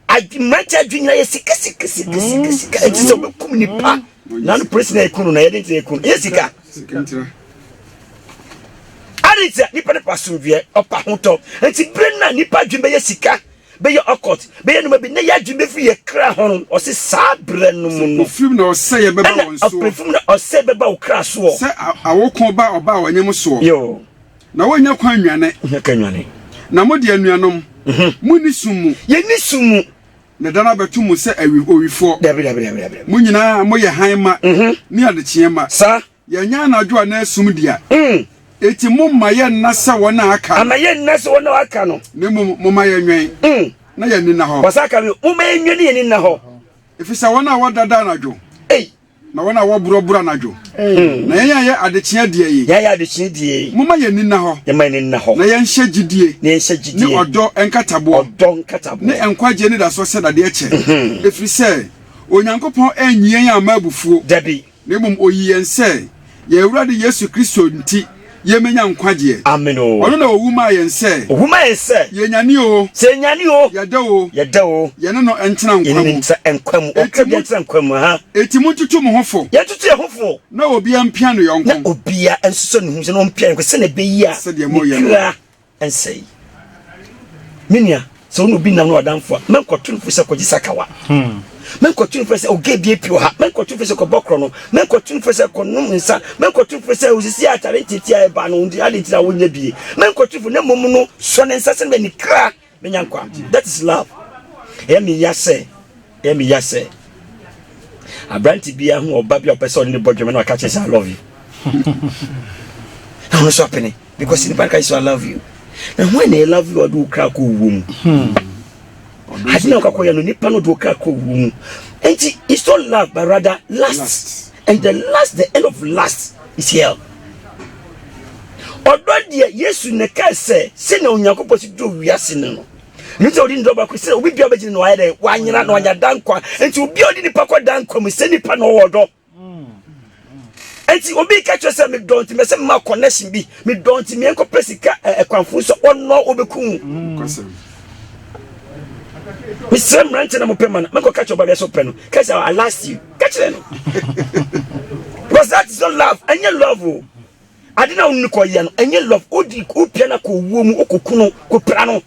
B: mmeranteɛ adwene nyinaa yɛ sika sika sika sika sika, ɛnti sɛ wobɛkum nnipa. na no polisi na eku no na yɛde ntina eku no yɛ sika adi nti a nipa no pa asomdwoeɛ ɔpa hotɔ nti bere na nipa adwene bɛyɛ sika bɛyɛ ɔkɔt bɛyɛ noma bi na yɛ adwene bɛfiri yɛ kra ho no ɔse saa berɛ no mu no ɔfirim na ɔsɛ yɛ bɛba
D: wɔn soɔ ɔpɛfim na ɔsɛ bɛba
B: wo kra soɔ sɛ awoko
D: ba ɔba a ɔnyem soɔ yo na
B: wɔnya kwan
D: nwane nya ka nwane na mo deɛ anuanom mhm. mo ni sum mu yɛ ni sum mu
B: Meda no abɛto
D: mo sɛ awi owifoɔ. Dabi, dabi, dabi, dabi.
B: Mo nyinaa
D: moyɛ hann mma Mhm. ne adekyeɛ mma. Saa. Yɛnyɛ
B: anadwo
D: anaa sum dea. Mm. Enti momma yɛnna sɛ wɔn a aka no. Ana yɛnna sɛ wɔn a
B: wɔaka no. Na mmom momma yɛnwɛn
D: Mm. na yɛn ani nna hɔ. Wɔsan ka bio, Momma yɛnwɛn
B: na yɛn ani nna hɔ. Ɛfiri sɛ wɔn a
D: wɔdada anadwo. Ei. Na wɔn a wɔborɔ borɔ anadwo. Hmm. Na yɛn a yɛ adekyea deɛ yi. Yɛn a yɛ adekyea deɛ yi.
B: Moma yɛn ani nna hɔ. Yɛn
D: ma yɛn ani nna hɔ. Na
B: yɛnhyɛ gyidie.
D: Na yɛnhyɛ gyidie. Ne ɔdɔ nkataboɔ. Ɔdɔ nkataboɔ. Ne nkwagyeɛ anidasoɔ sɛ dadeɛ kyɛ. Hmm. Ɛfiri sɛ Onyankopɔn anyi yɛn amma abufuo. Dabi. Na mmom
B: ɔyi yɛn
D: sɛ. Yɛn Awurade Yesu Kristo nti yemenya nkwagyeɛ. Amen o. Ɔno na
B: owu maa yɛn
D: sɛ. Owu maa yɛn sɛ. Yenyane o. Sɛ yenyane o. Yɛda
B: o. Yɛda o.
D: Yɛne no ntena nkwa mu. Yɛne no ntra nkwa mu.
B: Ɔka bi ntra nkwa mu, aha. Enti montutu mo ho
D: fo. Yɛntutu yɛn ho fo.
B: Na obiara mpia
D: ne yɔnko. Na obiara
B: nsosɔ
D: ne
B: ho mu sɛ na ɔmpia ne yɔnko sɛdeɛ ɛbɛyɛ a ne kra.
D: nsɛe.
B: Me nua, sɛ wo ne obi nam no ɔdamfo a, mɛnkɔto no fo sɛ kɔgye sakawa. Hmm. Mɛnkɔto no fo sɛ ɔgɛ bie pio ha. Mɛnkɔto no fo sɛ kɔbɔ korɔ no. Mɛnkɔto no fo sɛ kɔnom nsa. Mɛnkɔto no fo sɛ osisi atare ntete a ɛba no nti ade nti na wonyɛ bie. Mɛnkɔto no fo na mmom no sɔ ne nsa sɛ ne kra bɛnya nkwa. That is love. Ɛyɛ me ya sɛ Ɛyɛ me ya sɛ aberante bi ahu ɔba bi a ɔpɛ sɛ ɔne ne bɔ dwom na ɔka kyerɛ sɛ I love you. na ɔno nso apene because nipa no ka sɛ I love you. Na ho na I love you ɔde wo kra kɔ owuo mu. Hmm. Ade na ɔkakɔyɛ no nipa no de wo kra kɔ owuo mu. Enti it's not love but rather lust. lust. And the last, the end of last is hell. Ɔdɔ deɛ Yesu na ɛka sɛ sɛ na Onyankopɔn si do wiase no no. Menim sɛ ɔde ne dɔ baako sɛ obi biara bɛgyina na wayɛ dɛn wanyera na wanya da nkwa nti obi a ɔde nipa kɔ da nkwa mu sɛ nipa na ɔwɔ dɔ nti obi ka kyerɛ sɛ medɔ nti mɛsɛ mma connection bi medɔ nti meɛnkɔ pɛ sika ɛkwanfo so ɔnɔ ɔbɛku mesrɛ mmerante na mopɛ ma no mɛkɔ ka kyerɛ ɔbabia sɛ ɔpɛ no ka sɛ I last you ka kyerɛ no because that is not love ɛnyɛ love o Ade no a wonii kɔ yɛ no, ɛnyɛ love. Wodi, wopia no akɔ owuo mu, wokoku no, kopira no.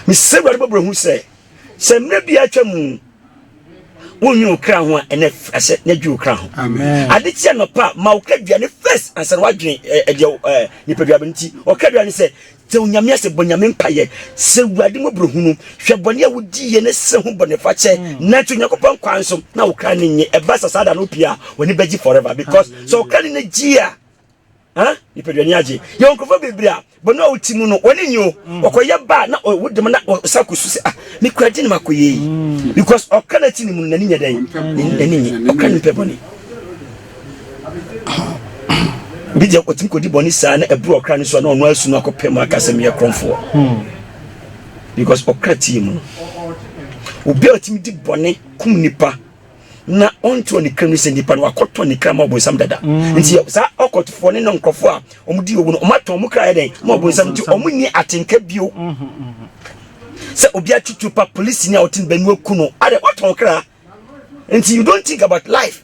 B: Mesrɛ Awurade bɔbrɛ hu sɛ, sɛ mmerɛ biara atwa mu, wonwene wo kra ho a, ɛnɛ firi asɛ na dwi wo kra ho. Ade kye anɔpa
D: a, ma
B: wo kra duane first ansa na woadwene ɛdeɛ nipadua bɛ nti. Ɔkra duane sɛ, Tse Onyame ase, bɔ Nyame mpaeɛ, srɛ Ewurade mmɔborɔhunu, hwɛ bɔne a wodiiɛ na srɛ ho bɔnefakyɛ, nante Onyankopɔn kwan so na wo kra no nye. Ɛba sa saa da no wopie a, w'ani bɛgye forever because sɛ wo kra no ani gye a, ah, nipadua ani agye. Yɛwɔ nkurɔfoɔ bebree a, bɔne a wɔte mu no, wɔn ani nnye o. Wɔkɔyɛ ba a, na wo dam na wɔsan kɔsu sɛ, ah, me kura deɛ na makɔyɛ yi? Because ɔkra no a ɛte ne mu no, n'ani nyɛ dɛn? N'ani nnye. Ɔkra no mpɛ bɔne. bi deɛ ɔtumi kɔdi bɔne saa na ɛburu ɔkra no so a na ɔno asu no akɔpɛ mu aka sɛ meyɛ korɔmfoɔ hmm. because ɔkra tie mu obi a ɔtumi di bɔne kum nipa na ɔntoɔ ne kra mu sɛ nipa no wakɔtɔ ne kra ma ɔbonsam dada hmm. nti saa ɔkɔtofoɔ ne no nkurɔfoɔ a ɔmodi owu no ɔmatɔn ɔmo kra yɛ dɛn ma ɔbonsam nti ɔmo nni atenka bio hmm, sɛ obi atutu pa polisi ni a ɔte ne bɛnu aku no adɛ watɔn kra nti you don't think about life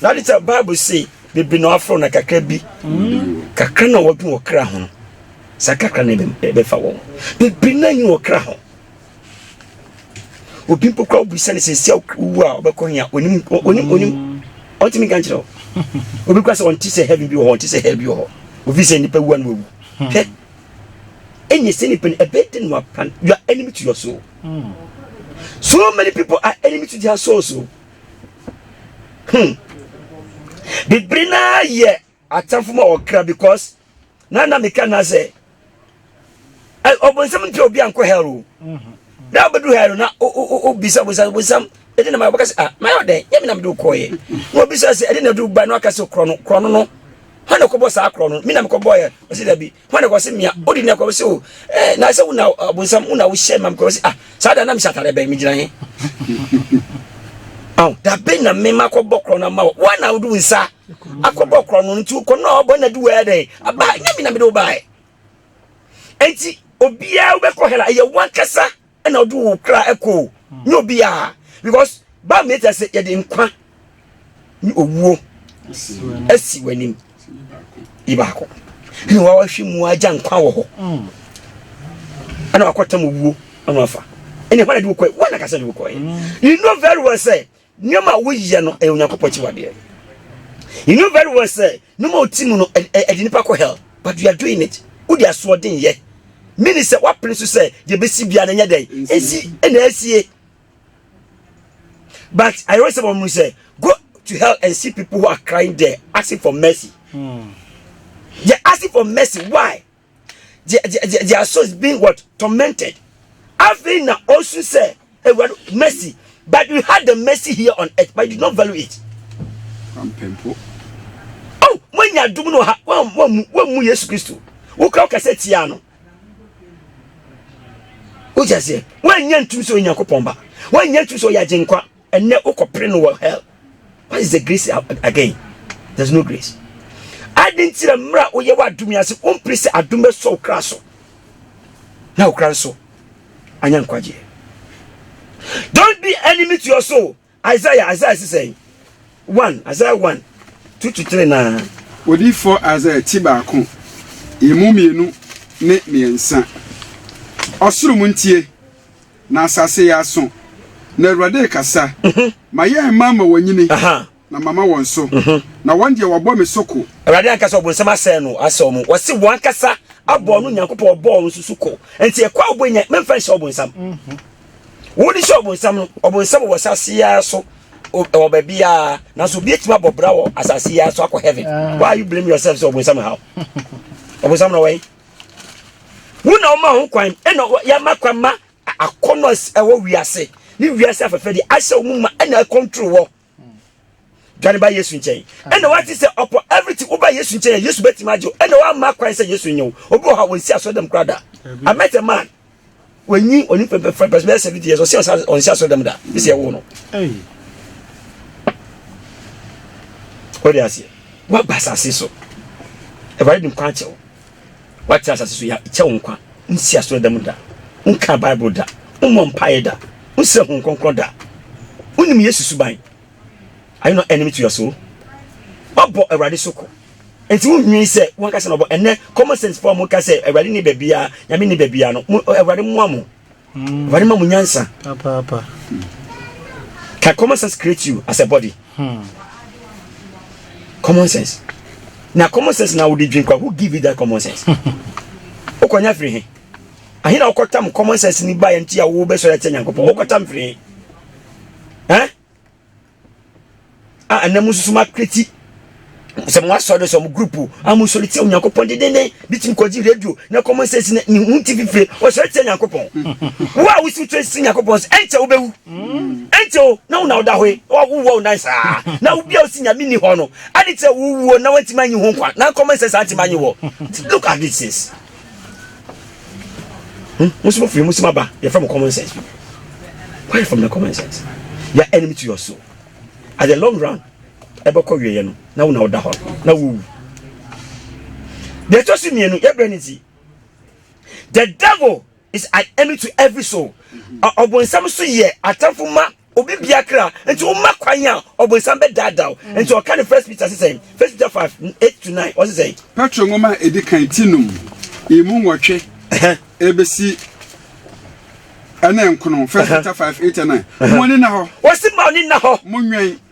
B: Na ade sɛ Bible se bebree na wɔafrɛ na kakra bi kakra na wɔdwen wɔ kra ho saa kakra na ɛbɛfa wɔn bebree na nyi wɔ kra ho obi mpo kora wobisa ne sɛsi a wowu a wobɛkɔ hia onim onim onim ɔntumi nka nkyerɛ obi kora sɛ ɔnte sɛ heaven bi wɔ hɔ ɔnte sɛ hell bi wɔ hɔ ofi sɛ nnipa wu a na wawu hmm. hɛ ɛnyɛ sɛ nipa no ɛbɛyɛ dɛ no wapan you are enemy to your soul hmm. so many people are enemy to their souls o oh. hmm bibiri naa yɛ atamfo ma ɔkra because na na meka na sɛ ɔbɔnsam mpɛ obi ankɔ hell o na ɔbɛdu hell na obisa ɔbɔnsam ɔbɔnsam ɛde na ma ɔbɛka sɛ ah mayɛ ɔdɛn yɛ me na mede wokɔɔyɛ na obisa sɛ ɛde na ɛde woba na ɔka sɛ korɔ no korɔ no no hɔ na ɛkɔbɔ saa korɔ no me na mekɔbɔɔyɛ ɔsɛ dabi Hwan na kɔ se mia odi na kɔ se o eh na se una abonsam una wo hyɛ mam kɔ se ah saa da na me satare bɛn me gyina he aw da bɛn na me ma kɔ bɔ korɔ na ma wo wa na wodu nsa akɔ bɔ korɔ no nti kɔ na ɔbɔ na du wɛ dɛn aba nya me na me do bae enti obiara wobɛkɔ hela ɛyɛ wankasa ɛna ɔde wo kra ɛkɔ o nyɛ obiara because bible ne kyerɛ sɛ yɛde nkwa ne owuo asi w'anim yi baako ɛna wawahwɛ mu agya nkwa wɔ hɔ ɛna wakɔtam owuo ɛna wafa ɛna ɛhɔ na de wokɔɛ wɔn na kasa de wokɔɛ you know very well sɛ Nneɛma a woyɛ no yɛ Onyankopɔn akyiwadeɛ. You know very well sɛ nneɛma a ɔti mu no ɛde nipa kɔ hell but you are doing it. Wode asoɔden yɛ. Mini sɛ woapene so sɛ deɛ bɛsi biara no nyɛ dɛn ɛsi ɛna asie. But I always say wɔn mu sɛ go to hell and see people who are crying there asking for mercy. Hmm. They're asking for mercy. Why? Their, their, their souls being what? Tormented. Afei na ɔsu sɛ, Awurade, mercy. But you had the mercy here on earth, but you did not value it. Ampempo. Oh, moanya adom no ha, woammu Yesu Kristo. Wokura woka sɛ tia no. Wogya seɛ, woannya ntum sɛ Onyankopɔn ba. Woannya ntum sɛ ɔyɛ agyenkwa. Ɛnnɛ wokɔ pere no wɔ hell. What is the grace again? There's no grace. Adɛn nti na mmerɛ a woyɛ wɔ adom yi ase wompere sɛ adom bɛsɔ wo kra so na wo kra nso anya nkwagyeɛ? Don't be enemy to your soul. Isaiah, Isaiah si sɛn? 1, Isaiah 1, 2 to 3 na. Odiyifoɔ
D: Isaiah ti baako, emu mmienu ne mmiɛnsa. Ɔsoro mu ntie. Na asase yɛ aso, na Awurade rekasa. Ma yɛn mma ama wɔanyini, na mama wɔn so, na wɔn deɛ wɔabɔ me so ko. Awurade ankasa ɔbonsam asɛe no, asɛe wɔn. Wɔse wɔn ankasa abɔ ɔno Nyankopɔn a ɔbɔɔ wɔn nso so ko. Enti ɛkɔ a wobɔ nya, memfa nhyɛ ɔbonsam. Wode hyɛ ɔbonsam no, ɔbonsam wɔ asase yi ara so, wɔ baabi ara, nanso obi atumi abɔ bra wɔ asase yi ara so akɔ heaven. Why are you blaming yourself sɛ ɔbonsam haw? Ɔbonsam na ɔwɔ yi. Wo na woma ho kwan, ɛna yɛama kwan ma akɔnɔ ɛwɔ wiase ne wiase afɛfɛde ahyɛ wɔn ma ɛna ɛkɔntoro wɔ dwane ba yesu nkyɛn ɛna wate sɛ ɔpɔ everything woba yesu nkyɛn a yesu bɛtumi agye ɛna wama kwan sɛ yesu nyew obi wɔ hɔ a wɔnsi asɔdam kora da i met a man Wanyi ɔne pɛpɛpɛ bɛsɛ bɛsɛ bi deɛ sɛ ɔsɛ ɔsɛ ɔnsɛ asɔrɔ dɛm da ne sɛ ɛwo no. Ɔde aseɛ waba asase so ɛwɛrɛ de nkwa akyɛw wate asase so yɛ kyɛw nkwa nsi asɔrɔ dɛm da nka bible da mmɔ mpaeɛ da nsrɛ ho nkɔnkɔn da wonim yesu suban ayɛ no enemy to your soul wabɔ awurade so ko. Enti wonwiin sɛ wɔnkasa na wɔbɔ. Ɛnnɛ, common sense fo a wɔka sɛ Awurade nni baabiara, Nyame nni baabiara no, mo, Awurade mmoa mo. Awurade ma mo nyansa. Papaapa.
B: Can common sense create you as a body? Hmm. Common sense. Na common sense na wode dwen kwa, who give you that common sense? Wokɔnya firi he? Ahe na wokɔtam common sense ni baeɛ nti a wobɛsɔre atia Nyankopɔn? Wokɔtam firi he? Eh? a ɛnɛ mo nso ma kreti sɛ mo asɔre sɛ mo group a mo sɔre tia onyankopɔn dendennen bi tumi kɔgye radio na common sense na ne ho ti fifire ɔsɔre tia nyankopɔn wo a wosi wotwe si nyankopɔn sɛ ɛnkyɛ wobɛwu ɛnkyɛ o na wo na woda hɔ yi wowɔ wo nan saa na wobia wosi nyame ni hɔ no ade kyerɛ wowuo na wantumi anyi ho nkwa na common sense antumi anyi wɔ look at this Hmm? Musi mo firi musi ma ba yɛfrɛ mo common sense people. Where from the common sense? You are enemy to your soul. At the long run, ɛbɛkɔ wieɛ no na wo na woda hɔ na wowu. Deɛ ɛtɔ so mmienu yɛbrɛ ne ti. The devil is an enemy to every soul. Ɔbonsam so yɛ atamfo ma Obi bia kra nti wo ma kwan a ɔbonsam bɛ daadaa wo nti ɔka no first Peter se sɛn first Peter five eight to nine ɔse sɛn. Petro nwoma a edi
D: kan ti num emu nwɔtwe ebesi ɛne nkono first Peter five eight and nine mo ani nna hɔ. Ɔse ma ɔni nna hɔ.
B: Mo nwɛn.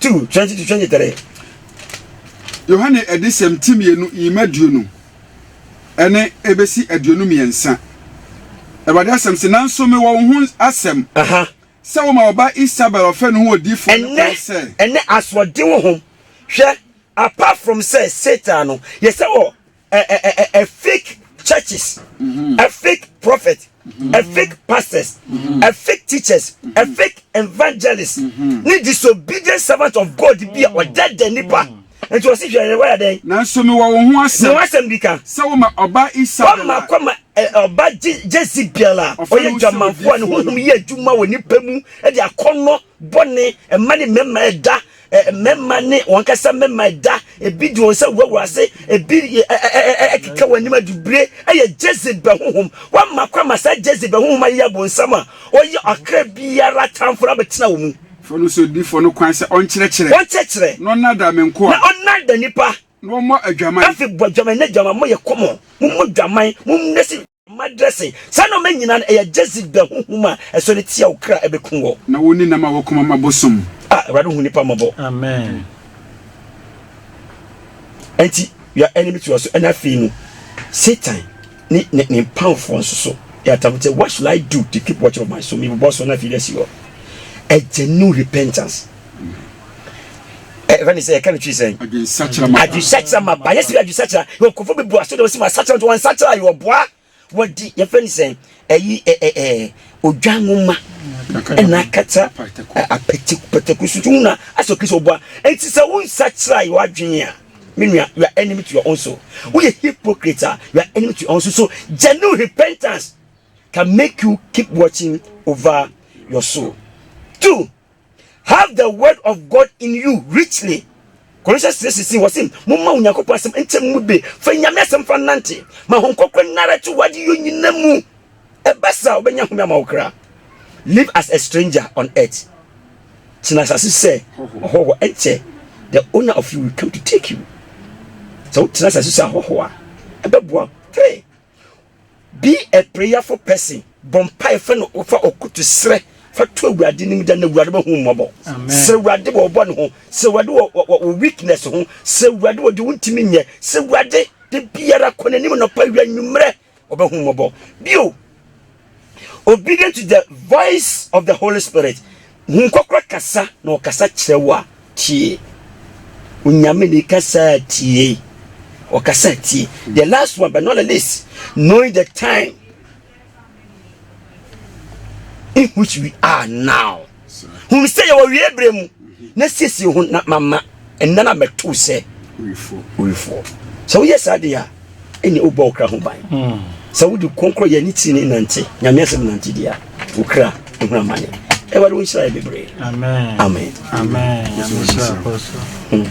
B: 2, 20-23.
D: Yohane adesɛm ti mmienu yim aduonu ne ɛbɛsi aduonu mmiɛnsa. Awurade asɛm se, Nanso mewɔ wo ho asɛm, sɛ woma wo ba Isabel ɔfɛ no ho odiyifoɔ no kwan sɛ. Ɛnɛ asoɔden wɔ
B: ho. Hwɛ, apart from sɛ Satan no, yɛ sɛ wɔ ɛ ɛ ɛ ɛ fake churches mm-hmm. ɛ fake prophet mm-hmm. ɛ fake pastors mm-hmm. ɛ fake teachers ɛ fake evangelists ne disobedient servant of God bi a ɔda da nipa nti ɔsi hwɛ ne wɔyɛ dɛn. nanso mi wɔ wɔn ho
D: asɛm. mi wɔ asɛm bi ka.
B: sɛ
D: wɔn
B: ma ɔba
D: isa bɛla. wɔn ma kɔ ma
B: ɔba jesi bɛla. ɔyɛ jamanfoɔ ne huhum yɛ adwuma wɔ nipa mu ɛde akɔnɔ bɔne ɛma ne mmarima ɛda Mmarima ne wɔn ankasa mmarima da. Ebi de wɔn nsa gu wɔn ase, ebi keka wɔn anim adubire. Ɛyɛ Jezebel honhom. Wɔama kwan ma saa Jezebel honhom ayeyɛ abonsam a ɔyɛ ɔkra biara tamfo no abɛtena wo mu. Fa no sɛ odiyifoɔ no
D: kwan sɛ ɔnkyerɛkyerɛ. Ɔnkyerɛkyerɛ. Na ɔnnaadaa me nkoa. Na ɔnnaadaa nnipa.
B: Na ɔmmɔ adwaman.
D: Afei bɔ adwaman, na adwaman,
B: moyɛ kɔmɔ. Mommɔ dwaman, mommrɛ si. Mma dressing saa nnoɔma nyinaa no ɛyɛ Jezebel honhom a ɛsɔ re tia wo kra ɛbɛku wɔ. Na wo ne nam a wɔkɔma
D: ma bosom. Ah Awurade hu nipa
B: mmɔbɔ. Amen. Ɛnti we are enemy to your soul ɛna afei no Satan ne ne ne mpamfoɔ nso so yɛ atamfo sɛ what should I do to keep watching of my soul mi bobɔ so na afei de asi hɔ ɛgya new repentance. ɛfɛ ne sɛ yɛka no twi sɛn
D: adwesakyera ma ba yɛsɛ
B: adwesakyera yɛ nkɔfo bebu aso de wɔsi ma asakyera nti wɔnsakyera yɛ ɔboa wɔdi yɛfɛ ne sɛn ɛyi ɛɛ odwa nwoma ɛna akata apɛtɛ pɛtɛku so tun na asɔ kristu ɔboa nti sɛ wɔnsakyera yɛ wadwene a me nua you are enemy to your own soul woyɛ hypocrite a you are enemy to your own soul so genuine repentance can make you keep watching over your soul two Have the word of God in you richly. Colossians 3:16 wɔ se momma Onyankopɔn asɛm nkyɛ mo mu be fa Nyame asɛm fa nante ma ho nkɔkorɛ nnara to wade yɔ nyina mu ɛba saa wobɛnya home ama wo kra live as a stranger on earth tena asase sɛ ɔhɔhoɔ ɛnkyɛ the owner of you will come to take you sɛ wotena asase sɛ ahɔhoɔ a ɛbɛboa three Be a prayerful person. Bɔ mpae fa no fa ɔkutu srɛ fa to awurade nim da na awurade bɛhu mmɔbɔ. Sɛ awurade wɔ ɔbɔ ne ho, sɛ awurade wɔ wɔ weakness ho, sɛ awurade wɔ de wontumi nyɛ, sɛ awurade de biara kɔ n'anim nɔpa awia nwummerɛ ɔbɛhu mmɔbɔ. Bio, Obedient to the voice of the Holy Spirit. Hun kɔkora kasa na ɔkasa kyerɛ wo a, tie. Onyame ne kasa tie. Ɔkasa tie. The last one but not the least, knowing the time in which we are now. Hu sɛ yɛwɔ wie berɛ mu na siesie ho na mama ɛnna no abɛto sɛ owifoɔ. Sɛ woyɛ saa deɛ a, ɛne wobɔ wo kra ho ban. Hmm. Sɛ wode kɔnkɔn yɛ ne tiri ne nante, nyame asɛm nante deɛ a, wo kra ɛhunu amane. Ɛwade wo nhyira yɛ bebree. Amen. Amen.
C: Amen.
B: Amen.